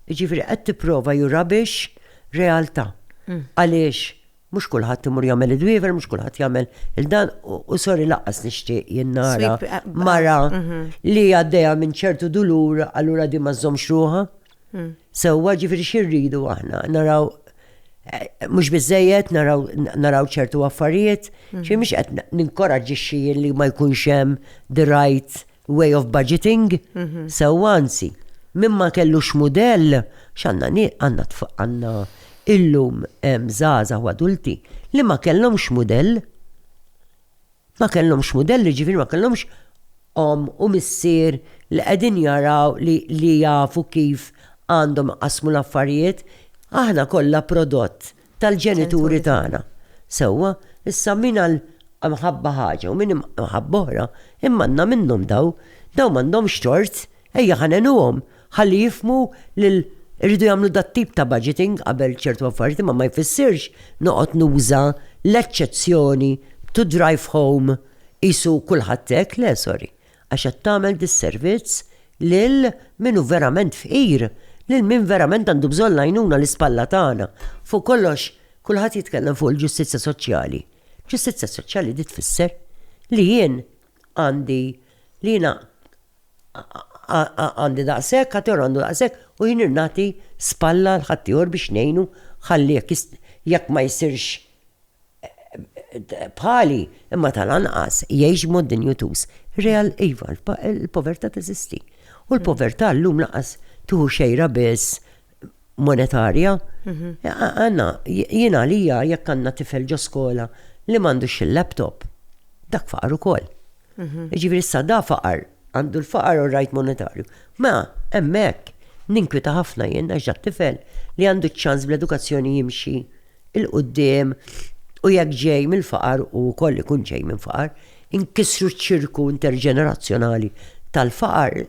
Jiġifieri qed tipprova you rubbish realtà. Għaliex mhux kulħadd imur jagħmel id-dwiefer, mhux kulħadd jagħmel il-dan u sorry laqqas nixtieq jien nara eh, mara ah, mhm. li għaddejja minn ċertu dulur allura di ma żżommx ruħha. Mm. Sewwa ġifieri xi rridu aħna naraw eh, mhux biżejjed naraw ċertu affarijiet, xi mhm. mhux qed ninkoraġġixxi li ma jkunx hemm the right way of budgeting, sewwa anzi, min ma kellux mudell, x'għandna ni għandna tf- għandna illum em, żgħażagħ u adulti li ma kellhomx mudell. Ma kellhomx mudell, jiġifieri ma kellhomx om u missier li qegħdin jaraw li, li jafu kif għandhom iqassmu l-affarijiet. Aħna kollha prodott tal-ġenituri tagħna. Sewwa, issa min għal mħabba ħaġa u min mħabba oħra, immannha minnhom daw, daw m'għandhomx tort, ejja ħa ngħinuhom ħalli jifhmu lil irridu jagħmlu dat-tip ta' budgeting qabel ċertu affarijiet imma ma jfissirx noqgħod nuża l-eċċezzjoni to drive home qisu kulħadd hekk, le sorry. għax qed tagħmel disservizz lil min hu verament fqir, lil min verament għandu bżonn l-għajnuna l-ispalla tagħna. Fuq kollox, kulħadd jitkellem fuq il-ġustizzja soċjali. Ġustizzja soċjali di tfisser li jien għandi li jiena għandi daqshekk, ħaddieħor għandu daqshekk u jien nagħti spalla l ħaddieħor biex ngħinu ħalli jekk ma jsirx bħali, imma tal-anqas jgħix mod dinjutuż. Real iva, il-povertà teżisti. U l-povertà llum laqas tuħu xejra biss monetarja. Mhm. Għanna, jien għalija jekk għandna tifel ġo skola li m'għandux il-laptop, dak faqar ukoll. Mhm. Ġifieri issa da faqar Għandu l-faqar u r-rgħid monetarju. Mela, hemmhekk, ninkwieta ħafna jien għax dat-tifel li għandu ċ-ċans bl-edukazzjoni jimxi 'l quddiem u jekk ġej mill-faqar u wkoll ikun ġej minn faqar, inkissru ċ-ċirku interġenerazzjonali tal-faqar,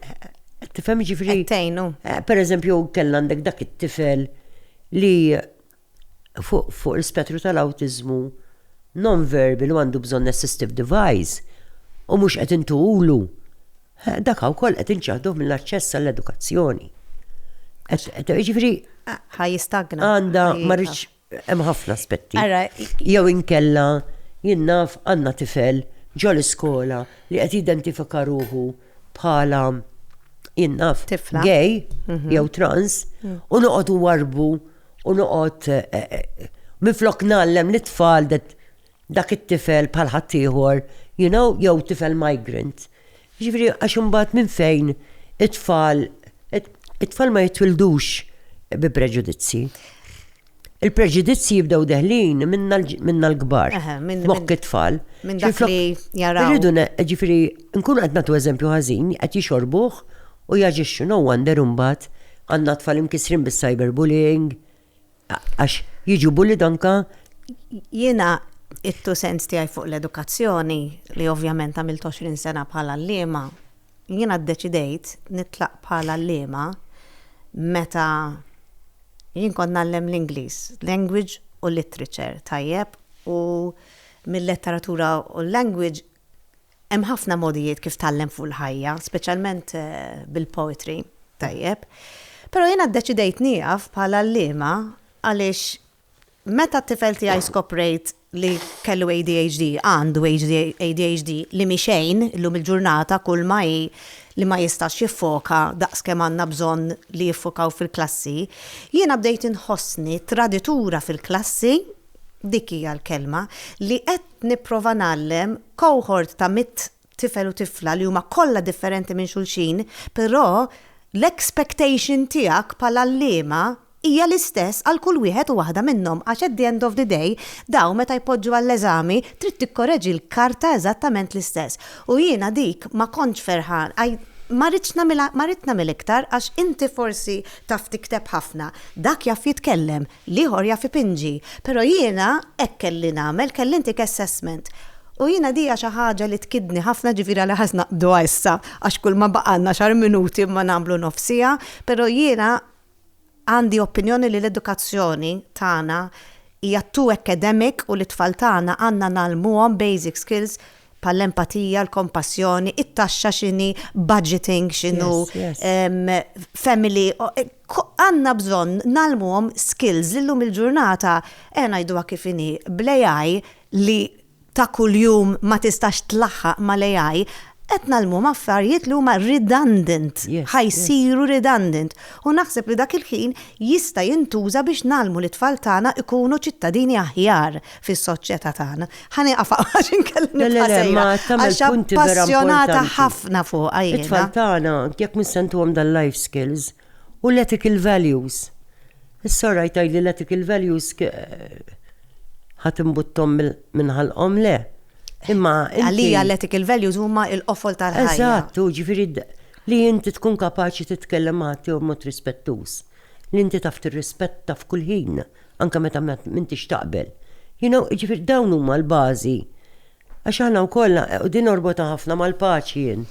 qed tifhem jiġifieri. Qed tgħinu. Pereżempju, kellna għandek dak it-tifel li. fuq l-ispettru tal-awtiżmu nonverbal u għandu bżonn assistive device u mhux qed intuhulu, dak wkoll qed inċaħduh mill-aċċess għall-edukazzjoni. Ġifieri ħa jistagna. Għandha ma rridx hemm ħafna aspetti. Jew inkella jien naf għandna tifel ġol iskola li qed jidentifika ruħu bħala jinnaf gay mhm. jew trans mm. u noqgħod warbu u noqgħod eh, eh, eh, minflok nallem li tfal dak it-tifel bħal ħaddieħor, you know, jew tifel migrant. Ġifieri għax imbagħad minn fejn it-tfal it-tfal ma jitwildux bi preġudizzi. Il-preġudizzji jibdew deħlin minna l-kbar. Mokk it-tfal. Minn dak li jaraw. Irridu ġifiri, nkunu qed nagħtu eżempju ħażin, qed jixorbuh u jaġixxu no wonder imbagħad għandna tfal imkisrin bis-cyberbullying għax jiġu bullied anka. Jiena it-two cents tiegħi fuq l-edukazzjoni li ovvjament għamilt 20 sena bħala għalliema Jiena ddeċidejt nitlaq bħala għalliema meta jien kont ngħallem l-Ingliż, language u literature, tajjeb, u mil-letteratura u l-language hemm ħafna mogħdijiet kif tgħallem fuq il-ħajja, speċjalment bil-poetry, tajjeb. Però jiena ddeċidejt nieqaf bħala għalliema għaliex Meta t-tifel tiegħi skoprejt li kellu ADHD, għandu ADHD, li mhi xejn illum il-ġurnata kulma hi li ma jistax jiffoka daqs kemm għandna bżonn li jiffokaw fil-klassi, jiena bdejt inħossni traditura fil-klassi, dik hija l-kelma, li qed nipprova ngħallem cohort ta' mitt tifel u tifla li huma kollha differenti minn xulxin, però l-expectation tiegħek bħala għalliema hija l-istess għal kull wieħed u waħda minnhom għax at the end of the day dawn meta jpoġġu għall-eżami trid tikkoreġi l-karta eżattament l-istess. U jiena dik ma kontx ferħan, ma ridtx nagħmilha, ma ridt nagħmel iktar għax inti forsi taf tikteb ħafna, dak jaf jitkellem, L-ieħor jaf ipinġi, però jiena hekk kelli nagħmel, kelli ntik assessment. U jiena dija xi ħaġa li tkiddni ħafna ġifieri għalhekk ħa naqbduha issa għax kulma baqgħalna xar minuti imma nagħmlu nofs siegħa, però jiena għandi opinjoni li l-edukazzjoni tagħna hija too academic u lit-tfal tagħna għandna ngħallmuhom basic skills bħall-empatija, l-kompassjoni, it-taxxa x'inhi, budgeting x'inhu, family, Għandna bżonn ngħallmuhom skills li llum il-ġurnata, ejja ngħiduha kif inhi, bl-AI li ta' kuljum ma tistax tlaħħaq mal-AI, qed ngħallmuhom affarijiet li huma redundant, ħa jsiru redundant. U naħseb li dak il-ħin jista' jintuża biex ngħallmu lit-tfal tagħna jkunu ċittadini aħjar. fis-soċjetà tagħna. Ħa nieqaf għax inkella Le, le, nibqa' le, sejra. ma tagħmel Għax punti vera appassjonata importanti. ħafna fuqha jiena. It-tfal tagħna, jekk mhux se ntuhom dal-life skills u l-ethical values. Is-sorraj tgħidli l-ethical values k- ħa timbutthom mill- minn ħalqhom, le. Imma inti- Għalija l-ethical values huma l-qofol tal-ħajja. Eżatt, u ġifieri d- li inti tkun kapaċi titkellem ma' ħaddieħor b'mod rispettuż, li inti taf tirrispetta f'kull ħin. anke meta ma m'intix taqbel. You know, jiġifieri dawn huma l-bażi. Għax aħna wkoll, u din norbotha ħafna mal-paċi jien.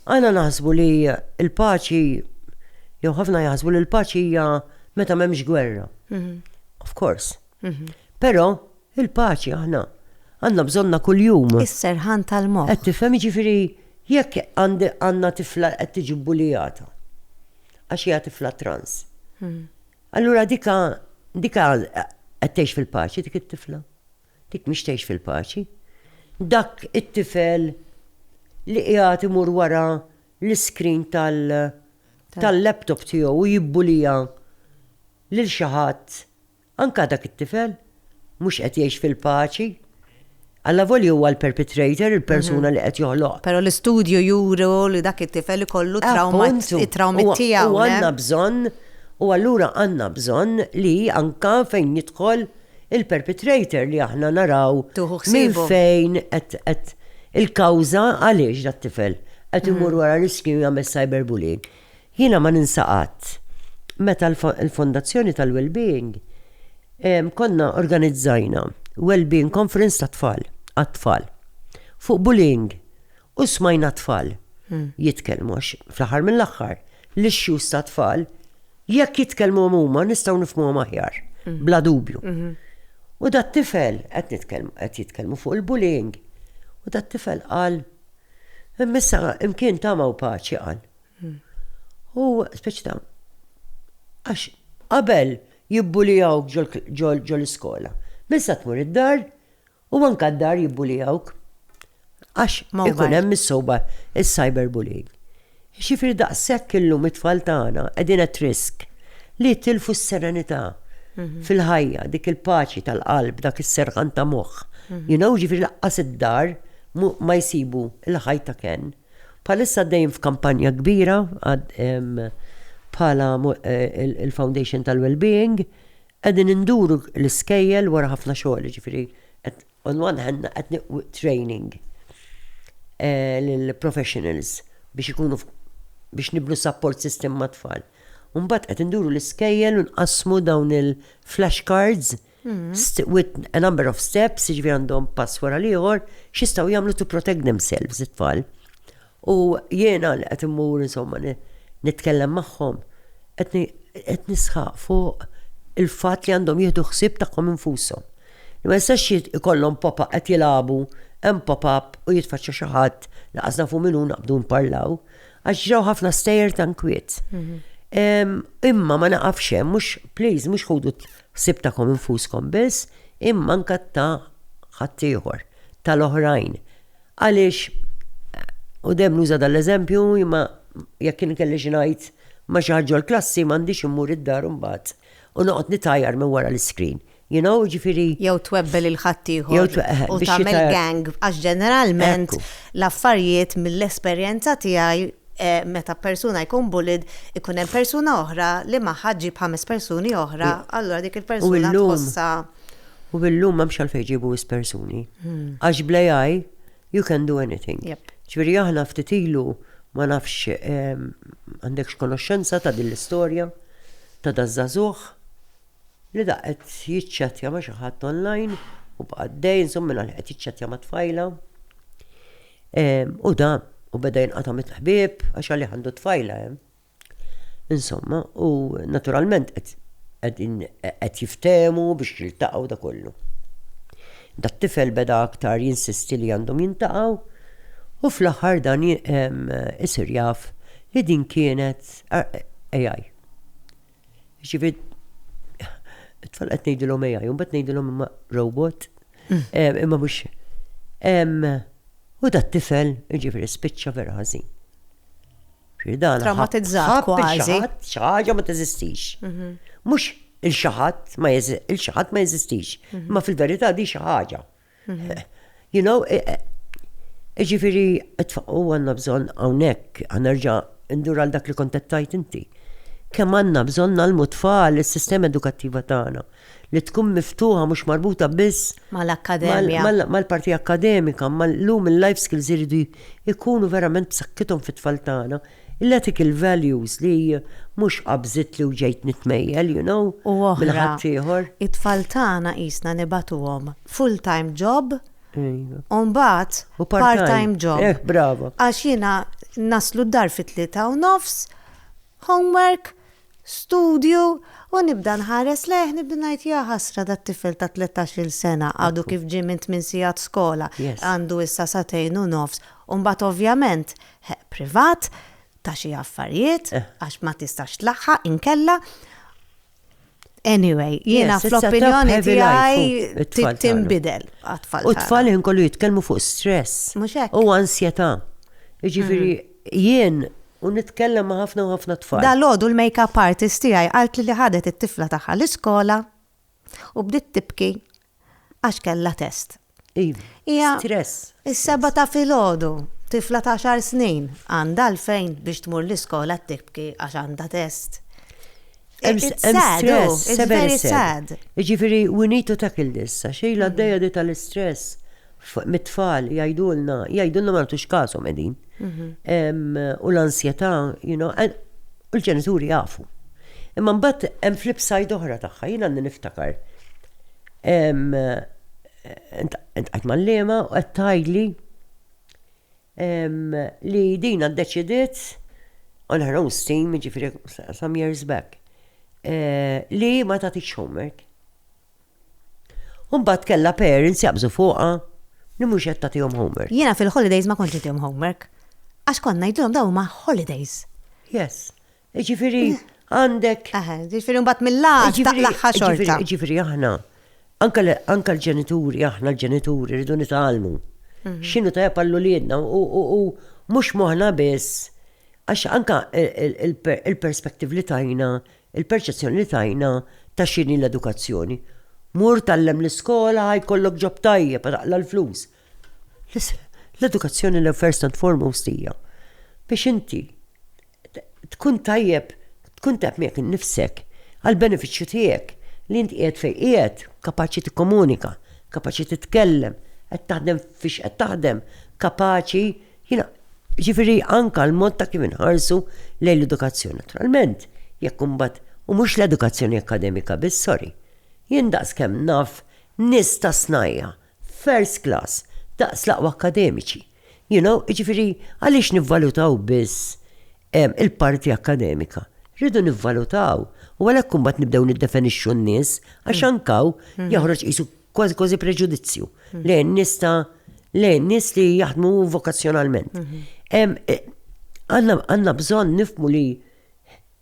Aħna naħsbu li l-paċi, jew ħafna jaħsbu li l-paċi hija meta m'hemmx gwerra. Of course. Però il-paċi aħna għandna bżonnha kuljum. Is-serħan tal-moħħ. Qed tifhem, jiġifieri jekk għandna tifla qed tiġi bbulijata għax hija tifla trans. Allura dika, dika qed tgħix fil-paċi dik it-tifla. Dik mhix tgħix fil-paċi. Dak it-tifel li qiegħed imur wara l-iskrin tal-laptop tiegħu u jibbulija lil xi ħadd, anka dak it-tifel, mhux qed jgħix fil-paċi. Allavolja huwa l-perpetrator, il-persuna li qed joħloq. Però l-istudju juru li dak it-tifel ikollu trawma it-trawmi tiegħu. U għandna bżonn, u allura għandna bżonn li anka fejn jidħol il-perpetrator li aħna naraw minn fejn qed il-kawża għaliex dat-tifel qed imur wara riskju jagħmel cyberbullying. Jiena ma ninsa qatt meta l-Fondazzjoni tal-Wellbeing konna organizzajna Wellbeing Conference tat-tfal, għat-tfal, fuq bullying u smajna t-tfal jitkellmu għax fl-aħħar mill-aħħar l-issues tat-tfal jekk jitkellmuhom huma nistgħu nifhmuhom aħjar, bla dubju. U dat-tifel, qed nitkellmu, qed jitkellmu fuq il-bullying, u dat-tifel qal, Imma issa imkien tama u paċi, qal. U speċi ta' għax qabel jibbulijawk ġol-iskola. Minn sa tmur id-dar u anka d-dar jibbulijawk. Għax ikun hemm is-soba is-cyberbullying. Ġifieri daqshekk illum it-tfal tagħna qegħdin at risk li jitilfu s-serenità fil-ħajja, dik il-paċi tal-qalb, dak is-serħan ta' moħħ. You know, ġifieri lanqas id-dar ma jsibu l-ħajt ta' kenn. Bħalissa għaddejjin f'kampanja kbira bħala il-Foundation tal-Wellbeing, qegħdin induru l-iskejjel wara ħafna xogħol, jiġifieri on one hand qed nieħdu training lill-professionals biex ikunu biex nibnu support system mat-tfal. U mbagħad qed induru l-iskejjel u nqassmu dawn il-flash cards with a number of steps, ġivi għandhom pass wara liħor, xistaw jamlu to protect themselves it-tfal. U jena li għet immur, insomma, nitkellem maħħom, għet nisħaq fuq il-fat li għandhom jihdu xsib taħħom infusom. Li ma jistax ikollhom pop-up għet jilabu, hemm pop-up u jitfaċċa xaħat li għazna fu minnu naqbdu nparlaw, għax ġraw ħafna stejer tankwiet. Mhm. Imma ma naqafxem, mux, please, mux ħudu Ħsieb tagħkom infuskom biss, imma anke ta' ħaddieħor, tal-oħrajn. Għaliex, u dejjem nuża dan l-eżempju, imma jekk jien ikelli xi ngħid ma' xi ħadd ġol-klassi m'għandix immur id-dar imbagħad u noqgħod nitgħajjar minn wara l-iskrin. You know, jiġifieri. Jew twebbel lil ħaddieħor u tagħmel gang, għax ġeneralment l-affarijiet mill-esperjenza tiegħi meta persuna jkun bullied ikun hemm persuna oħra li magħha ġġib ħames persuni oħra, allura dik il-persuna tħossha. U illum m'hemmx għalfejn iġibu wisq persuni. Għax bl-AI you can do anything. Ġifieri aħna ftit ilu ma nafx għandekx konoxxenza ta' din l-istorja ta' daż-żagħżugħ. li da qed jiċċattja ma' xi ħadd online u baqa' dej insomma minn qed jiċċattja ma' tfajla. Ehm, u da, u beda jinqata' mit-ħbieb għax għalih għandu tfajla hemm. Ehm. Insomma, u naturalment qed jiftehmu biex jiltaqgħu da kollu. Da tifel beda aktar jinsisti li għandhom jintaqgħu u fl-aħħar dan ehm, isir jaf li din kienet AI. Jiġifieri it-tfal qed ngħidilhom AI, imbagħad ngħidilhom imma robot. Mm. Imma mhux u dat tifel jiġifieri spiċċa vera ħażin. Traumatizzat kważi. Xaħġa ma teżistix. Mhm. Mhux il-xaħat ma il-xaħat ma jeżistix. Mhm. Ma fil-verità di xi ħaġa. You know, e, e, e, ġifiri, u għanna bżon għawnek, għanerġa indur għal dak li kontettajt inti. Kem għanna bżon nalmu tfal il-sistema edukattiva tagħna li tkun miftuħa mhux marbuta biss mal-akkademija. Mal-parti akkademika, mal-lum il-life skills iridu ikunu verament b'sakkithom fit-tfal tagħna Il-ethical values li mhux qabżitli u ġejt nitmejjel, you know, minn ħaddieħor. U oħra, it-tfal tagħna qisna nibagħtuhom full time job u mbagħad part time job. U part time, brava. Għax jiena naslu d-dar fit-tlieta u nofs, homework, studju, u nibda nħares lejh nibda ngħid ja ħasra dat-tifel ta' tletax-il sena għadu kif ġie minn tmien sigħat skola, għandu issa sagħtejn u nofs. U mbagħad ovvjament Ħeqq privat ta' xi affarijiet għax ma tistax tlaħħaq inkella. Anyway, jiena fl-opinjoni tiegħi tinbidel għat-tfal. U t-tfal ħin kollu jitkellmu fuq stress. Mhux hekk. U ansjetà. Jiġifieri mm. jien u nitkellem ma' ħafna u ħafna tfal. Dal-għodu l-makeup artist tiegħi qalt li ħadet it-tifla tagħha l-iskola u bdiet tibki għax kellha test. Hija s-sebgħa ta' filgħodu, tifla ta' għaxar snin, għandha għalfejn biex tmur l-iskola tibki għax għandha test. Jiġifieri we need to tackle this, għax ilha għaddejja di tal-istress. mit-tfal jgħidulna, jgħidulna ma nagħtux każhom qegħdin. Mhm. U l-ansjetà, you know, u l-ġenituri jafu. Imma mbagħad hemm flip side oħra tagħha, jien għandi niftakar. Intqajt mal-lema u qed tgħidli li dina ddeċidiet on her own steam, ġifieri some years back, eh, li ma tagħtix homework. U mbagħad kellha parents jaqbżu fuqha li mhux qed tagħtihom homework. Jiena fil-holidays ma kontx nitihom homework. Għax kont ngħidilhom dawn huma holidays. Yes. Jiġifieri għandek. Eħe, jiġifieri mbagħad mill-għad taqlagħha xorta. Jiġifieri aħna anke l-ġenituri, aħna l-ġenituri rridu nitgħallmu. Mhm. X'inhu tajjeb għal uliedna u mhux moħħna biss għax anke il-perspective li tajna Il-perċezzjoni li tajna ta' x'inhi l-edukazzjoni. Mur tgħallem l-iskola ħa jkollok ġob tajjeb, taqla' l-flus. L-edukazzjoni l first and foremost hija biex inti tkun tajjeb, tkun tajjeb miegħek innifsek għall-benefiċċju tiegħek li inti qiegħed fejn qiegħed, kapaċi tikkomunika, kapaċi titkellem, qed taħdem fiex qed taħdem, kapaċi Jina, ġifiri anka l-mod ta' kif inħarsu lejn l-edukazzjoni. Naturalment, jekk imbagħad u mhux l-edukazzjoni akkademika biss, sorry. Jien daqs kemm naf nies ta' snajja' first class, daqs l-aqwa akkademiċi. You know, ġifiri għaliex nivvalutaw biss il-parti akkademika? Rridu nivvalutaw u għalhekk imbagħad nibdew niddefenixxu n-nies għax anka hawn joħroġ qisu kważi kważi preġudizzju mhm. lejn nista lejn nis li jaħdmu vokazzjonalment. Mhm. Eh, għanna bżon nifmu li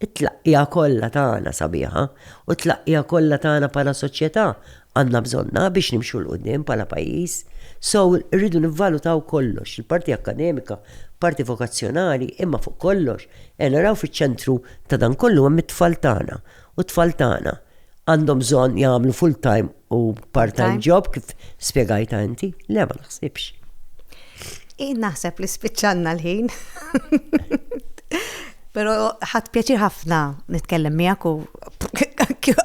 it-tlaqqija kollha tagħna sabiħa u t-tlaqqija kollha tagħna bħala soċjetà għandna bżonna biex nimxu l qudiem bħala pajjiż. So rridu nivvalutaw kollox, il-parti akademika, parti vokazzjonali, imma fuq kollox, e naraw fiċ-ċentru ta' dan kollu hemm it-tfal tagħna u t-tfal tagħna għandhom bżonn jagħmlu full time u part time job kif spjegajta inti, le ma naħsibx. Id naħseb li spiċċanna l-ħin. Pero ħadd pjaċir ħafna nitkellem miegħek u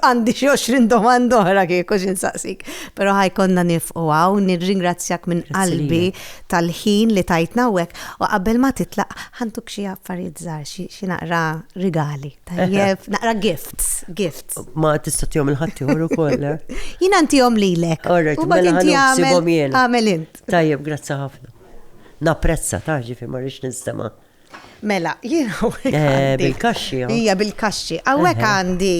għandi xi 20 domanda oħra kieku xi nsaqsik. Però ħajkonna nifqu għaw, nirringrazzjak minn qalbi tal-ħin li tajtna hekk u qabel ma titlaq ħantuk xi affarijiet żgħar xi naqra rigali. Tajjeb, naqra gifts, gifts. Ma tista' tihom il-ħaddieħor ukoll. Eh? Jien antihom lilek. Alright, mela ħansibhom jien. Għamel int. Tajjeb, grazzi ħafna. Napprezza ta' ġifi ma rix nistema'. Mela, jien eh, Bil-kaxxi. Oh. Ija bil-kaxxi. Għawek għandi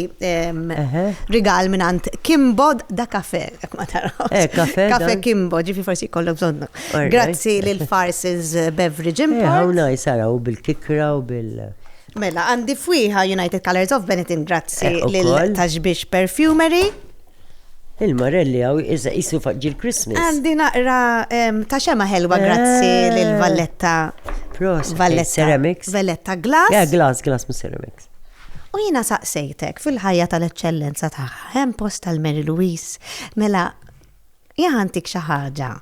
rigal minn għand Kimbod da kafe, jek ma taraw. Eh, kafe. Kafe Kimbo, ġifi forsi kollok zonnu. Grazzi l-Farses Beverage eh, Import. Għawna jisaraw bil-kikra u bil-. Mela, għandi fwieħa United Colours of Benetton grazzi Eh, lil ukoll. Taxbix Perfumery. Il-marelli hawn iżda qisu faq ġil Christmas. Għandi naqra em, ta' xema ħelwa grazzi Eh. lil Valletta. Prost, eh, Valletta. ceramics. Valletta Ja, Glass. glass, glass mis ceramics. U jiena saqsejtek fil-ħajja tal-eċċellenza tagħha hemm post tal-Mary Louise. Mela, jaħantik xi ħaġa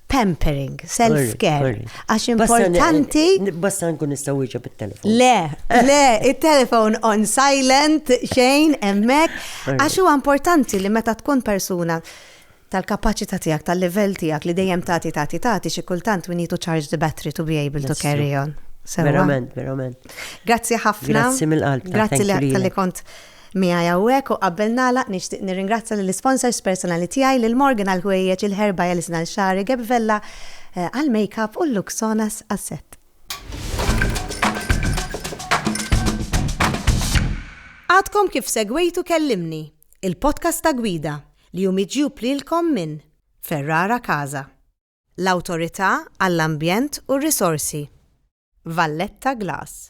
pampering, self-care, għax importanti. Basta nkun nistaw iġa bit-telefon. Le, le, il-telefon on silent, xejn, emmek, għax huwa importanti li meta tkun persuna tal-kapacità tiegħek, tal-livell tiegħek li dejjem tagħti tagħti tagħti xi kultant we need to charge the battery to be able to carry on. Verament, verament. Grazzi ħafna. Grazzi mill-qalb. Grazzi li kont miegħi hawnhekk u qabel nagħlaq nixtieq nirringrazzja lill-isponsors personali tiegħi, lil Morgan għall-ħwejjeġ, il-Herba Yalison għal xagħri, Gabby Vella għall-makeup u Luxonas għas-set. Għadkom kif segwejtu Kellimni, il-podcast ta' Gwida, li hu miġjub lilkom minn Ferrara Casa, l-Awtorità għall-Ambjent u r-Risorsi, Valletta Glass.